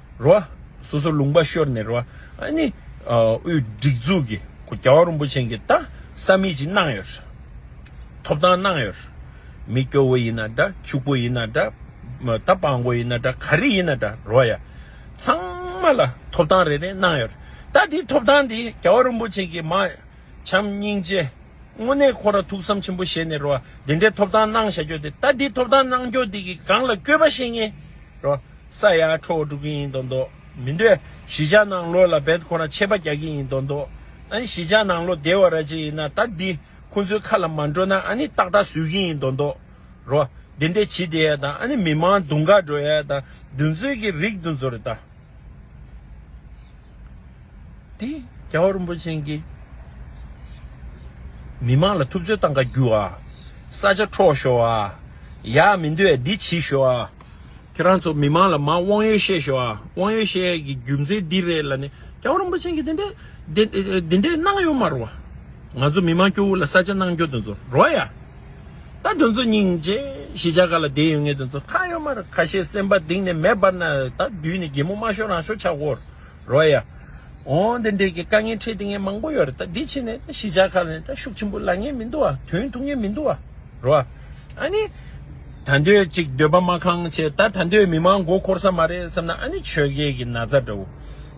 རོ། སོ་སོར་ལུང་པ་ཤོར་ནས་རོ། ཨཱ་ནི། དབུས་སྒྲིག་འཛུགས་ཀྱི་སྐུ་རྒྱལ་བ་རིན་པོ་ཆེན་གྱི་རྟགས་ས་མིག་ཅིག་གནང་ཡོད། ཐོབ་ཐང་གནང་ཡོད། མི་སྐྱོ་བོ་ཡིན་ན་འདྲ་ཕྱུག་པོ་ཡིན་ན་འདྲ། རྟ་སྤང་པོ་ཡིན་ན་འདྲ་ག་རེ་ཡིན་ན་འདྲ་རོ། ཡ། ཚང་མ་ལ་ཐོབ་ཐང་རེ་རེ་གནང་ཡོད། ད་དེ་ཐོབ་ཐང་དེ་རྒྱལ་བ་རིན་པོ་ཆེན་གྱི་མ། བྱམས་སྙིང་རྗེ། དངོས་གནས་ཁོ་ར་ཐུགས་བསམ་ཆེན་པོ་བཞེས་ནས་རོ། དེ་འདྲའི་ཐོབ་ཐང་གནང་བཞག་རྒྱོ་དེ་ད་དེ་ཐོབ་ཐང་གནང་རྒྱོ་དེ་གི་སྒང་ལ་སྐྱོད་པ་བཤད་ངེས། རོ། ས་ཡ་ཁྲོ་བོ་སྒྲུབ་ཀྱི་ཡིན་དོ་འདོག་མི་འདོད། བཞི་ཆ་ནང་ལོ་ལ་བེད་ཁོ་ན་ཆད་པ་རྒྱག་གི་ཡིན་དོ་འདོག་ཨ་ནི་བཞི་ཆ་ནང་ལོ་བདེ་བ་ར་ཅི་ཡིན་ན་ད་འདི་ཁོ་ཚོའི་ཁ་ལ་མ་འགྲོ་ན་ཨ་ནི་ཏག་ཏག་བཟོད་ཀྱི་ཡིན་དོ་འདོག་རོ། དེ་འདྲས་བྱེད་བདེ་ཡ་དང་ཨ་ནི་མི་མང་དུང་དཀར་འགྲོ་ཡ་དང་བདུན་ཚོད་ཀྱི་རིགས་དུ་འཛོ་རེ་ད། འདི་རྒྱལ་བ་རིན་པོ་ཆེན་གྱིས་མི་མང་ལ་ཐུབ་ཚོད་བཏང་ཁ་རྒྱུ་བ། ས་ཆ་འཕྲོག་ཤོག་ཨ། ཡག་མི་འདོད་འདི་བྱེད་ཤོག་ཨ། ཁྱེད་རང་ཚོ་མི་མང་ལ་མང་དབང་ཡོད་བཤད་ཤོག་ཨ་དབང་ཡོད་བཤད་ཡས་ཀྱི་རྒྱུ་མཚན་འདི་རེད་ལ་ནི་རྒྱལ་བ་རིན་པོ་ཆེན་གྱིས་འདི་འདྲའི་གནང་ཡོད་མ་རུང་བ། ང་ཚོ་མི་མང་སྐྱོ་བོ་ལ་ས་ཆ་གནང་སྐྱོ་དོན་ཚོ་རོ་ཡ། ད་དོན་ཚོ་སྙིང་རྗེ་གཞི་ཆགས་ག་ལ་བདེ་ཡོད་ངའི་དོན་ཚོ་ཁ་ཡོད་མ་རེད་ཁ་ཤས་སེམས་པ་གདིང་ནས་མེ་འབར་ན་ད་དུས་ནས་རྒྱལ་མོ་མ་ཤོར་རང་ཤོར་ཆགས་གོ་རོ་ཡ། འོ་འདི་འདྲས་ཀྱི་དཀའ་ངལ་འཕྲད་དེ་ངས་མང་པོ་ཡོད་རེད་ད་འདི་ཕྱི་ནས་ད་གཞི་ཆགས་ཁ་ལས་ད་ཤུགས་ཆེན་པོ་ལ་ངེས་མི་འདུག་ཨ་དོན་ཐུག་ངེས་མི་འདུག་ཨ་རོ་ཨ་ནི། ད་འདོད་གཅིག་འདོད་པ་མ་གང་བྱས་ད་ད་འདོད་མི་མང་མགོ་འཁོར་ས་མ་རེད་བསམ་ན་ཨ་ནི་ཆོས་རྒྱལ་གྱི་ན་ཚ་འདྲ་བོ།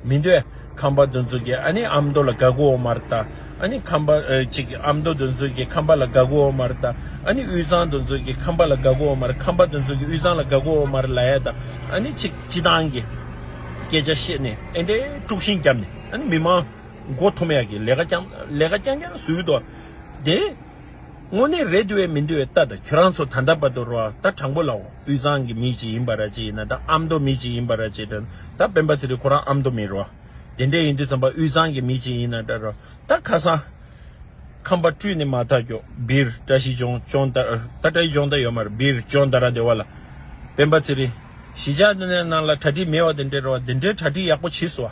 མི་འདོད། ཁམས་པ་འདོན་ཚུལ་གྱིས་ཨ་ནི་ཨམ་མདོ་ལ་དགའ་གུ་འོ་མར་བལྟ། ཨ་ནི་ཁམས་པ་ཅིག་ཨམ་མདོ་འདོན་ཚུལ་གྱིས་ཁམས་པ་ལ་དགའ་གུ་འོ་མར་བལྟ། ཨ་ནི་དབུས་གཙང་འདོན་ཚུལ་གྱིས་ཁམས་པ་ལ་དགའ་གུ་འོ་མར་ཁམས་པ་འདོན་ཚུལ་གྱིས་དབུས་གཙང་ལ་དགའ་གུ་འོ་མར་ལ་ཡ་བལྟ། ཨ་ནི་ཅིག་སྤྱི་བཏང་གི་སྐད་ཆ་བཤད་ནས་ཨེ་འདྲའི་དཀྲུགས་ཤིང་བརྒྱབ་ནས་ཨ་ནི་མི་མང་མགོ་འཐོམ་ཡག་གི་ལས་ཀ་རྐྱང་རྐྱང་ཟུག་ཏོ་དེ། དངོས་གནས་རེད་འདོད་མི་འདོད་ལྟ་ད་ཁྱོད་རང་ཚོ་ད་ལྟ་བར་དུ་རོ་ད་དྲང་པོ་ལ་དབུས་གཙང་གི་མི་ཞིག་ཡིན་པ་ར་ཅི་ཡིན་ན་ད་ཨ་མདོ་མི་ཞིག་ཡིན་པ་ར་ཅི་ད་སྤེན་པ་ཚེ་རིང་ཁོ་རང་ཨ་མདོ་མི་རོ་དེ་འདྲས་ཡིན་དུས་ཚང་པ་དབུས་གཙང་གི་མི་ཞིག་ཡིན་ན་ད་རོ་ད་ཁ་སང་ཁམས་པ་སྤྲུལ་ནས་མ་ཐག་གྱོ་སྦིར་བཀྲ་ཤིས་ལྗོངས་ལྗོངས་ད་བཀྲ་ཤིས་ལྗོངས་ད་ཡོད་མ་རེད་སྦིར་ལྗོངས་ད་ར་བདེ་བ་ལ་སྤེན་པ་ཚེ་རིང་གཞིས་ཆགས་ནང་ལ་གྲ་སྒྲིག་མེད་བ་དེ་འདྲས་རོ་དེ་འདྲས་གྲ་སྒྲིག་ཡག་པོ་བྱེད་སོ།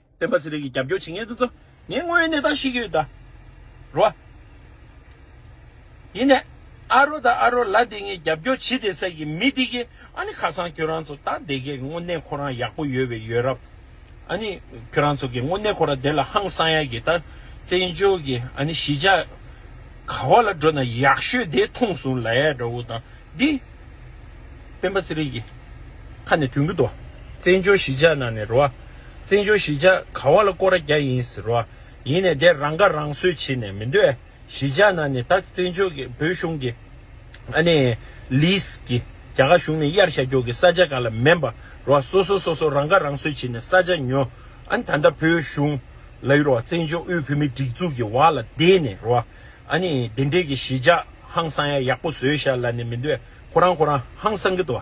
སྤེན་པ་ཚེ་རིང་གིས་རྒྱབ་སྐྱོར་བྱེད་མཁན་དེ་ཚོ་ངས་དངོས་ཡོད་གནས་སྟངས་ཤེས་ཀྱི་ཡོད་ད་རོ། ཡིན་ནས་ཨ་རོ་ད་ཨ་རོ་ལ་དེ་ངས་རྒྱབ་སྐྱོར་བྱེད་དེ་ཟེར་གི་མི་འདི་གི་ཨ་ནི་ཁ་སང་ཁྱོད་རང་ཚོ་ད་དེ་གའི་དངོས་གནས་ཁོ་རང་ཡག་པོ་ཡོད་བའི་ཡོད་རབ་ཨ་ནི་ཁྱོད་རང་ཚོ་གི་དངོས་གནས་ཁོ་ར་དེ་ལ་ཧང་སང་ཡག་གི་ད་བཙན་བྱོལ་གི་ཨ་ནི་གཞིས་ཆགས་ག་བ་ལ་འགྲོ་ན་ཡག་ཤོས་དེ་མཐོང་སོང་ལ་ཡག་འདྲ་བོ་ད་འདི་སྤེན་པ་ཚེ་རིང་གི་ཁ་ནས་དོན་གི་འདུག་བཙན་བྱོལ་གཞིས་ཆགས་ནང་ནས་རོ་ཨ། བཙན་བྱོལ་གཞིས་ཆགས་ག་བ་ལ་སྐོར་ར་རྒྱ་ཡིན་ཟེར་བ་ཡིན་ནས་དེ་རང་ཁ་རང་གསོས་བྱེད་ནས་མི་འདོད་ཨ། གཞིས་ཆགས་ནང་ནས་ད་བཙན་བྱོལ་གྱི་བོད་གཞུང་གི་ཨ་ནི། Lease། གི་རྒྱ་གར་གཞུང་ནས་གཡར་བཞག་རྒྱོག་གི་ས་ཆ་ག་ལ་མེན་པ་རོ་སོ་སོ་སོ་སོ་རང་ཁ་རང་གསོས་བྱེད་ནས་ས་ཆ་ཉོ་ཨ་ད་ལྟ་བོད་གཞུང་ལ་ཡོད་རོ་བཙན་བྱོལ་དབུས་བོད་མིའི་སྒྲིག་འཛུགས་ཀྱི་བར་ལ་བསྡད་ནས་རོ་ཨ་ནི་དེ་འདྲས་ཀྱི་གཞིས་ཆགས་ཧང་སང་ཡ་ཡག་པོ་བཟོས་བཞག་ལ་ནི་མི་འདོད་ཁོ་རང་ཁོ་རང་ཧང་སང་གི་དོ།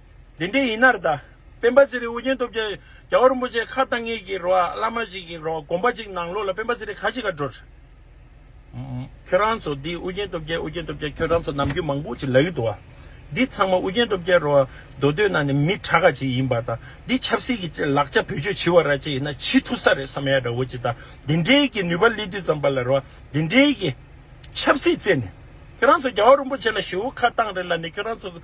དེ་འདྲའི་ཡིན་ན་རེ་ད། སྤེན་པ་ཚེ་རིང་དབུ་རྒྱན་སྟོབས་རྒྱལ་རྒྱ་བོ་རིན་པོ་ཆེ་ཁ་བཏང་ངེད་ཀྱི་རོ་ཨ་བླ་མ་ཞིག་གི་རོ་དགོངས་པ་ཅིག་ནང་ལོག་ལ་སྤེན་པ་ཚེ་རིང་ཁ་ཅིག་ག་འགྲོ། ཁྱོད་རང་ཚོ་འདི་དབུ་རྒྱན་སྟོབས་རྒྱལ་དབུ་རྒྱན་སྟོབས་རྒྱལ་ཁྱོད་རང་ཚོ་ནམ་རྒྱུན་མང་པོ་ཅིག་ལབ་ཡོད་འདུག་བ། འདི་ཚང་མ་དབུ་རྒྱན་སྟོབས་རྒྱལ་རོ་ཨ་མདོ་སྟོད་ན་ནི་མི་དྲག་ག་ཅིག་ཡིན་པ་དང་འདི་ཆབ་སྲིད་ཀྱི་ལག་ལྕགས་བེད་སྤྱོད་བྱེད་བ་ར་ཅིག་ཡིན་ན་ཇི་ཐུ་ས་རེད་བསམ་ཡ་འདྲ་བོ་ཅིག་ད་འདི་འདྲའི་གི་ནུས་པ་ལི་དུས་ཙམ་པ་ལ་རོ་ཨ་འདི་འདྲའི་གི། ཆབ་སྲིད་རྩད་ནས། ཁྱོད་རང་ཚོ་རྒྱ་བོ་རིན་པོ་ཆེ་ལ་ཞེ་བོ་ཁ་བཏང་རེ་ལ་ནི་ཁྱོད་རང་ཚོ་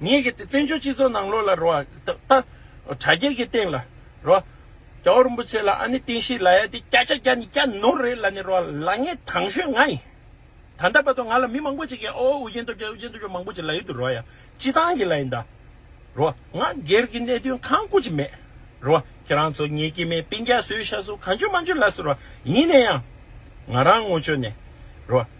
ངེད་ཀྱི་བཙན་བྱོལ་སྤྱི་ཚོགས་ནང་ལོགས་ལ་རོ། ད། དྲ་རྒྱ་གི་སྟེང་ལ་རོ། རྒྱ་བོ་རིན་པོ་ཆེ་ལ་ཨ་ནི་ཏིང་ཤི་ལ་ཡ་དེ་སྐྱ་ཆ་སྐྱ་ནི་སྐྱ་ནོར་རེད་ལ་ནི་རོ། ལ་ངས་དང་ཤོས་ང་ཡིན། ད་ལྟ་བར་དུ་ང་ལ་མི་མང་པོ་ཅིག་གིས་ཨོ་ཨུ་རྒྱན་སྟོབས་རྒྱལ་ཨུ་རྒྱན་སྟོབས་རྒྱལ་མང་པོ་ཅིག་ལ་ཡུལ་དུ་རོ་ཡ། སྤྱི་བཏང་གི་ལ་ཡིན་ད། རོ། ང་སྒེར་གྱི་གནད་དོན་གང་བཀོད་ཀྱི་མེད། རོ། ཁྱེད་རང་ཚོ་ངེད་ཀྱི་མའི་དཔེ་འགའ་བཟོས་ཤ་བཟོ་གང་བྱོས་མ་བྱོས་ལ་སུ་རོ། ཡིན་ན་ཡང། ང་རང་ངོ་ཆོད་ནས། རོ།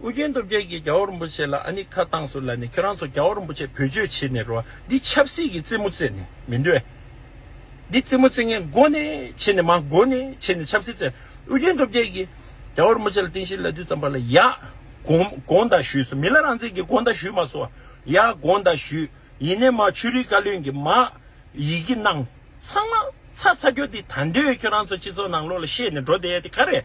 ཨོ་རྒྱན་སྟོབས་རྒྱལ་གྱིས་རྒྱ་བོ་རིན་པོ་ཆེ་ལ་ཨ་ནི་ཁ་བཏང་ཟུར་ལ་ནས་ཁྱོད་རང་ཚོ་རྒྱ་བོ་རིན་པོ་ཆེ་བོད་སྤྱོད་བྱེད་ནས་རོ་འདི་ཆབ་སྲིད་ཀྱི་རྩེད་མོ་རྩེད་ནས་མི་འདོད། འདི་རྩེད་མོ་རྩེད་ངན་མགོ་ནས་ཕྱེ་ནས་མ་མགོ་ནས་ཕྱེ་ནས་ཆབ་སྲིད་རྩེད། ཨོ་རྒྱན་སྟོབས་རྒྱལ་གྱིས་རྒྱ་བོ་རིན་པོ་ཆེ་ལ་རྟེན་གཞིའི་ལད་ཟློས་ཙམ་པ་ལ་ཡ། དགོངས་དག་ཞུས་སོ་མི་ལ་རང་བཙན་གྱི་དགོངས་དག་ཞུས་མ་སོ། ཡ་དགོངས་དག་ཞུས་ཡིན་ནས་མ་ཆོས་རིག་བཀའ་བློན་གྱི་མ། ཡི་གེ་གནང། ཚང་མ་ཚ་ཚ་ཁྱོད་འདི་ད་འདོད་ཁྱོད་རང་ཚོ་སྤྱི་ཚོགས་ནང་ལོག་ལ་ཤེས་ནས་འགྲོ་བསྡད་དེ་ག་རེ།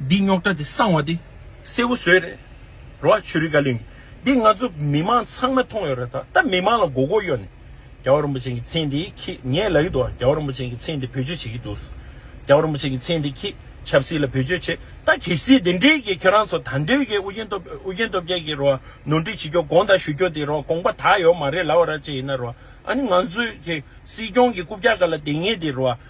འདི་རྙོག་དྲ་དེ་སངས་བ་དེ་སེ་བོ་ཟོས་རེད་རོ་ཨ་ཆོས་རིག་བཀའ་བློན་གྱི་འདི་ང་ཚོ་མི་མང་ཚང་མ་མཐོང་ཡོད་རེད་ད་ད་མི་མང་ལ་མགོ་སྐོར་གཡོག་ནས་རྒྱ་བ་རིན་པོ་ཆེན་གྱི་མཚན་དེ་ཁྱེད་ངས་ལ་ཡི་འདུག་རྒྱ་བ་རིན་པོ་ཆེན་གྱི་མཚན་དེ་བེད་སྤྱོད་བྱེད་ཀྱི་འདུག་རྒྱ་བ་རིན་པོ་ཆེན་གྱི་མཚན་དེ་ཁྱེད་ཆབ་སྲིད་ལ་བེད་སྤྱོད་བྱེད་ད་གལ་སྲིད་དེ་འདྲས་ཀྱི་ཁྱེད་རང་ཚོ་ད་འདོད་ཀྱི་ཨུ་རྒྱན་སྟོབས་ཨུ་རྒྱན་སྟོབས་རྒྱལ་གྱི་རོ་ཨ་ནོར་འཁྲིད་བྱེད་རྒྱོ་དགོངས་དག་ཞུ་རྒྱོ་དེ་རོ་ཨ་དགོངས་པ་དག་ཡོ་མ་རེད་ལ་བ་ར་བཅས་ཡིན་ན་རོ་ཨ་ནི་ང་ཚོའི་གྱི་སྲིད་སྐྱོང་གྱི་རྐུབ་བཀྱག་ག་ལ་དེ་ངས་དེ་རོ་ཨ།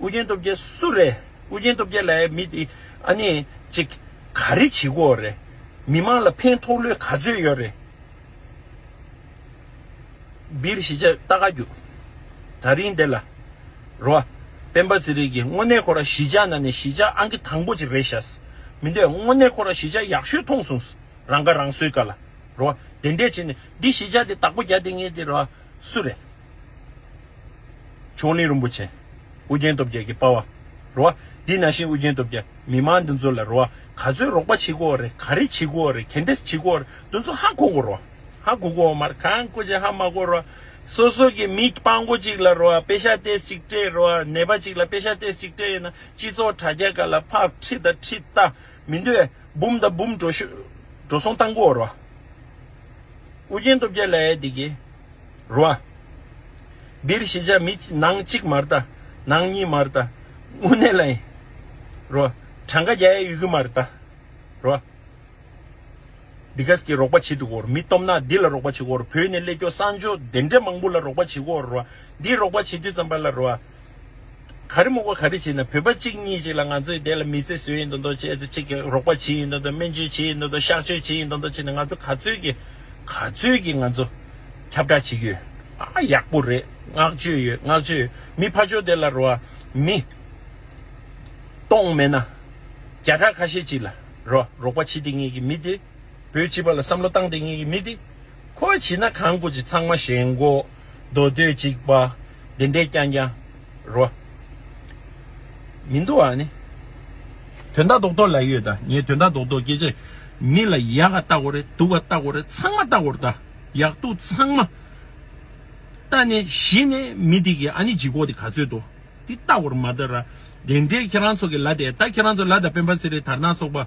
ཨུ་རྒྱན་སྟོབས་རྒྱལ་སུ་རེད་ཨུ་རྒྱན་སྟོབས་རྒྱལ་ལའི་མི་དེ་ཨ་ནེ་ཅིག་ག་རེ་བྱེད་དགོས་རེད་མི་མང་ལ་ཕན་ཐོགས་ལོས་ག་ཚོད་ཡོད་རེད་སྦིར་ཞི་བྱེད་ལྟ་ག་རྒྱུ་ད་རིང་དེ་ལ་རོ་ཨ་སྤེན་པ་ཚེ་རིང་གིས་དངོས་གནས་ཁོ་ར་ཞི་བྱ་ན་ནས་ཞི་བྱ་ཨང་གི་དང་པོ་ཅིག་རེད་ཤ་སི་མི་འདོད་དངོས་གནས་ཁོ་ར་ཞི་བྱ་ཡག་ཤོས་མཐོང་སོང་སི་རང་ཁ་རང་གསོའི་ག་ལ་རོ་ཨ་དེ་འདྲས་བྱེད་ནས་འདི་ཞི་བྱ་དེ་དག་པོ་རྒྱ་དེ་ངེས་དེ་རོ་ཨ་སུ་རེད། མཆོག་གླིང་རིན་པོ་ཆེ། ཨུ་རྒྱན་སྟོབས་རྒྱལ་གྱི་དཔའ་བ། རོ་བ། འདི་ན་ཤིང་ཨུ་རྒྱན་སྟོབས་རྒྱལ་མི་དམངས་འདི་ཚོ་ལ་རོ་བ་ག་ཚོད་རོགས་པ་བྱེད་གོ་རེ་ག་རེ་བྱེད་གོ་རེ་གན་དེ་བྱེད་གོ་རེ་འདི་ཚོ་ཧ་གོ་གོ་རོ་ཧ་གོ་གོ་མར་གང་གོ་ཅི་ཧ་མ་གོ་རོ་སོ་སོ་གི་མི་དཔང་གོ་ཅིག་ལ་རོ་བ་པེ་ཤ་ཏེས་ཅིག་སྤྲད་རོ་བ་ནད་པ་ཅིག་ལ་པེ་ཤ་ཏེས་ཅིག་སྤྲད་ཡོད་ན་སྤྱི་ཚོགས་དྲ་རྒྱ་ག་ལ་ཕག་ཁྲི་དང་ཁྲི་རྟ་མི་འདོད་འབུམ་དང་འབུམ་འགྲོ་ཤོས་འགྲོ་སོང་བཏང་གོ་རོ་ཨུ་རྒྱན་སྟོབས་རྒྱལ་ལ་ཨེ་འདི་གི། རུ་བ། འདིར་ཤེས་བྱ་མི་ནང་གཅིག་མར་བལྟ། ནང་གཉིས་མར་བལྟ། དངོས་གནས་ལ་ཡིན། རུ་བ། གྲངས་ཀ་བརྒྱ་ཡས་ཡུལ་གྱི་མར་བལྟ། རུ་བ། འདི་ག་གིས་རོགས་པ་བྱེད་འདུག་གོ། མི་སྟོབས་ནག་འདི་ལ་རོགས་པ་བྱེད་གོ། བོད་ནས་ཀླད་སྐྱོ་གསང་སྦྱོར་བདེ་འདྲེ་མང་པོ་ལ་རོགས་པ་བྱེད་གོ། རུ་བ། འདིས་རོགས་པ་བྱེད་དུས་ཙམ་པ་ལ་རུ་བ། ག་རེ་མུག་པ་ག་རེ་བྱེད་ན་བོད་པ་གཅིག་གཉིས་ཅིག་ལ་ང་ཚོས་དེ་ལ་མི་ཚེ་ཟོས་ཡིན་དོ་མདོག་བྱེད་དོ་ཅིག་རོགས་པ་བྱེད་ཡིན་དོ་མདོག་སྨན་བཅོས་བྱེད་ཡིན་དོ་མདོག་གཤགས་བཅོས་བྱེད་ཡིན་དོ་མདོག་བྱེད་ན་ང་ཚོ་ག་ཚོད་ཀྱི་ག་ཚོད་ཀྱི་ང་ཚོ་ཁྱབ་བསྒྲགས་བྱེད་ཀྱི་ཡོད་ཨ་ཡག་པོ་རེད་བསྔགས་བརྗོད་ཡོད་བསྔགས་བརྗོད་ཡོད་མི་ཕ་ཅོ་དེ་ལ་རོ་མི་གཏོང་མེད་ན་བརྒྱ་ཕྲག་ཁ་ཤས་ཅིག་ལ་རོ་རོགས་པ་བྱེད་དེ་ངེས་ཀྱི་མི་དེ་བོད་སྤྱི་པ་ལ་བསམ་བློ་བཏང་དེ་ངེས་ཀྱི་མི་དེ་ཁོ་བ་བྱེད་ན་གང་དགོས་ཀྱི་ཚང་མ་ཞེན་གོ། མདོ་སྟོད་ཅིག་པ་འདི་འདྲའི་རྐྱང་རྐྱང་རོ། མི་འདུག་ཨ་ནི། དོན་དག་རྡོག་རྡོག་ལ་ཡོད་ད་ངས་དོན་དག་རྡོག་རྡོག་སྐད་ཆ་མི་ལ་ཡག་ག་ལྟ་གོ་རེ་སྡུག་ག་ལྟ་གོ་རེ་ཚང་མ་ལྟ་གོ་ད་ཡག་སྡུག་ཚང་མ་ལྟ་ནས་གཞི་ནས་མི་དེ་གི་ཨ་ནི་ལྗིད་ཁོག་དེ་ག་ཚོད་དོ་དེ་ལྟ་གོ་རེ་མ་ལྟ་ར་དེ་འདྲའི་ཁྱེད་རང་ཚོ་གི་ལ་དེ་ད་ཁྱེད་རང་ཚོ་ལ་ད་སྤེན་པ་ཚེ་རིང་དར་ནག་ཚོགས་པ།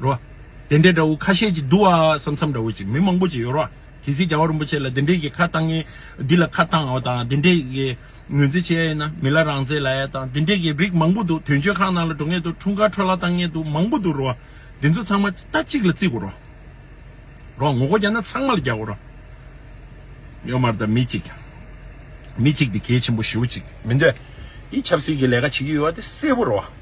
རོ། དེ་འདྲའི་དགྲ་བོ་ཁ་ཤས་ཀྱིས་བསྡུ་བ་ས་མཚམས་འདྲ་བོ་ཅིག་མི་མང་པོ་ཅིག་ཡོད་རོ། གལ་སྲིད་རྒྱལ་བ་རིན་པོ་ཆེ་ལ་འདི་འདྲའི་གི་ཁ་བཏང་ངེ། འདི་ལ་ཁ་བཏང་བ་དང་འདི་འདྲའི་གི་ངོས་འཛིན་བྱེད་ཡ་ཡིན་ན་མི་ལ་རང་བརྩེ་ལ་ཡ་དང་འདི་འདྲའི་གི་རིགས་མང་པོ་འདུག་དོན་གཅོད་ཁང་ནང་ལ་འགྲོ་ངེས་འདུག་འཁྲུངས་སྐར་འཕྲོ་ལ་བཏང་ངེས་འདུག་མང་པོ་འདུག་རོ། འདི་ཚོ་ཚང་མ་ལྟ་གཅིག་ལ་བརྩི་དགོས་རོ། རོ། ངོ་རྒོལ་རྒྱག་ན་ཚང་མ་ལ་རྒྱག་དགོས་རོ། ཡོད་མ་རེད་དམ་མི་གཅིག། མི་གཅིག་དེ་གལ་ཆེན་པོ་ཞེ་བོ་ཅིག་མི་འདོད། དེ་ཆབ་སྲིད་ཀྱི་ལས་ཀ་བྱེད་ཀྱི་ཡོད་བ་དེ་གསལ་པོ་རོ།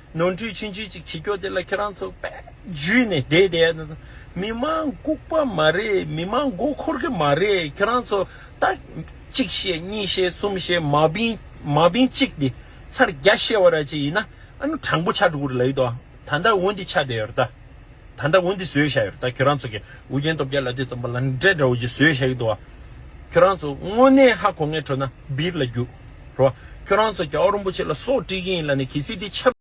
ནོར་འཁྲུལ་ཕྱིན་ཅི་ཅིག་བྱེད་ཀྱོ་དེ་ལ་ཁྱེད་རང་ཚོ་པད་བརྒྱུད་ནས་བསྡད་བསྡད་ན་མི་མང་ལྐུག་པ་མ་རེད་མི་མང་མགོ་འཁོར་གི་མ་རེད་ཁྱེད་རང་ཚོ་ད་གཅིག་བཤད་གཉིས་བཤད་གསུམ་བཤད་མ་བིན་མ་བིན་གཅིག་དེ་ཚར་བརྒྱ་བཤད་བ་ར་ཅིག་ཡིན་ན་ཨ་ནུ་དྲང་པོ་ཆགས་འགྲོ་གི་རེད་ལ་ཡོད་དོ་ད་ད་འོ་འདི་ཆགས་བསྡད་ཡོད་རེད་ད་ད་ད་འོ་འདི་བཟོས་བཞག་ཡོད་རེད་ད་ཁྱེད་རང་ཚོ་གི་འུ་རྒྱན་སྟོབས་རྒྱལ་ལ་དེ་ཙམ་པ་ལ་འདྲེ་འདྲ་བོ་ཅིག་བཟོས་བཞག་ཡོད་དོ་ཁྱེད་རང་ཚོ་དངོས་གནས་ཧ་གོ་ངའི་ཁྲོད་ན་སྦིར་ལ་རྒྱུགས་རོགས་ཁྱེད་རང་ཚོ་རྒྱ་བ་རིན་པོ་ཆེ་ལ་སོགས་དཀྲིས་ཀྱི་ཡིན་ལ་ནི་གལ་སྲིད་དེ་ཆབ།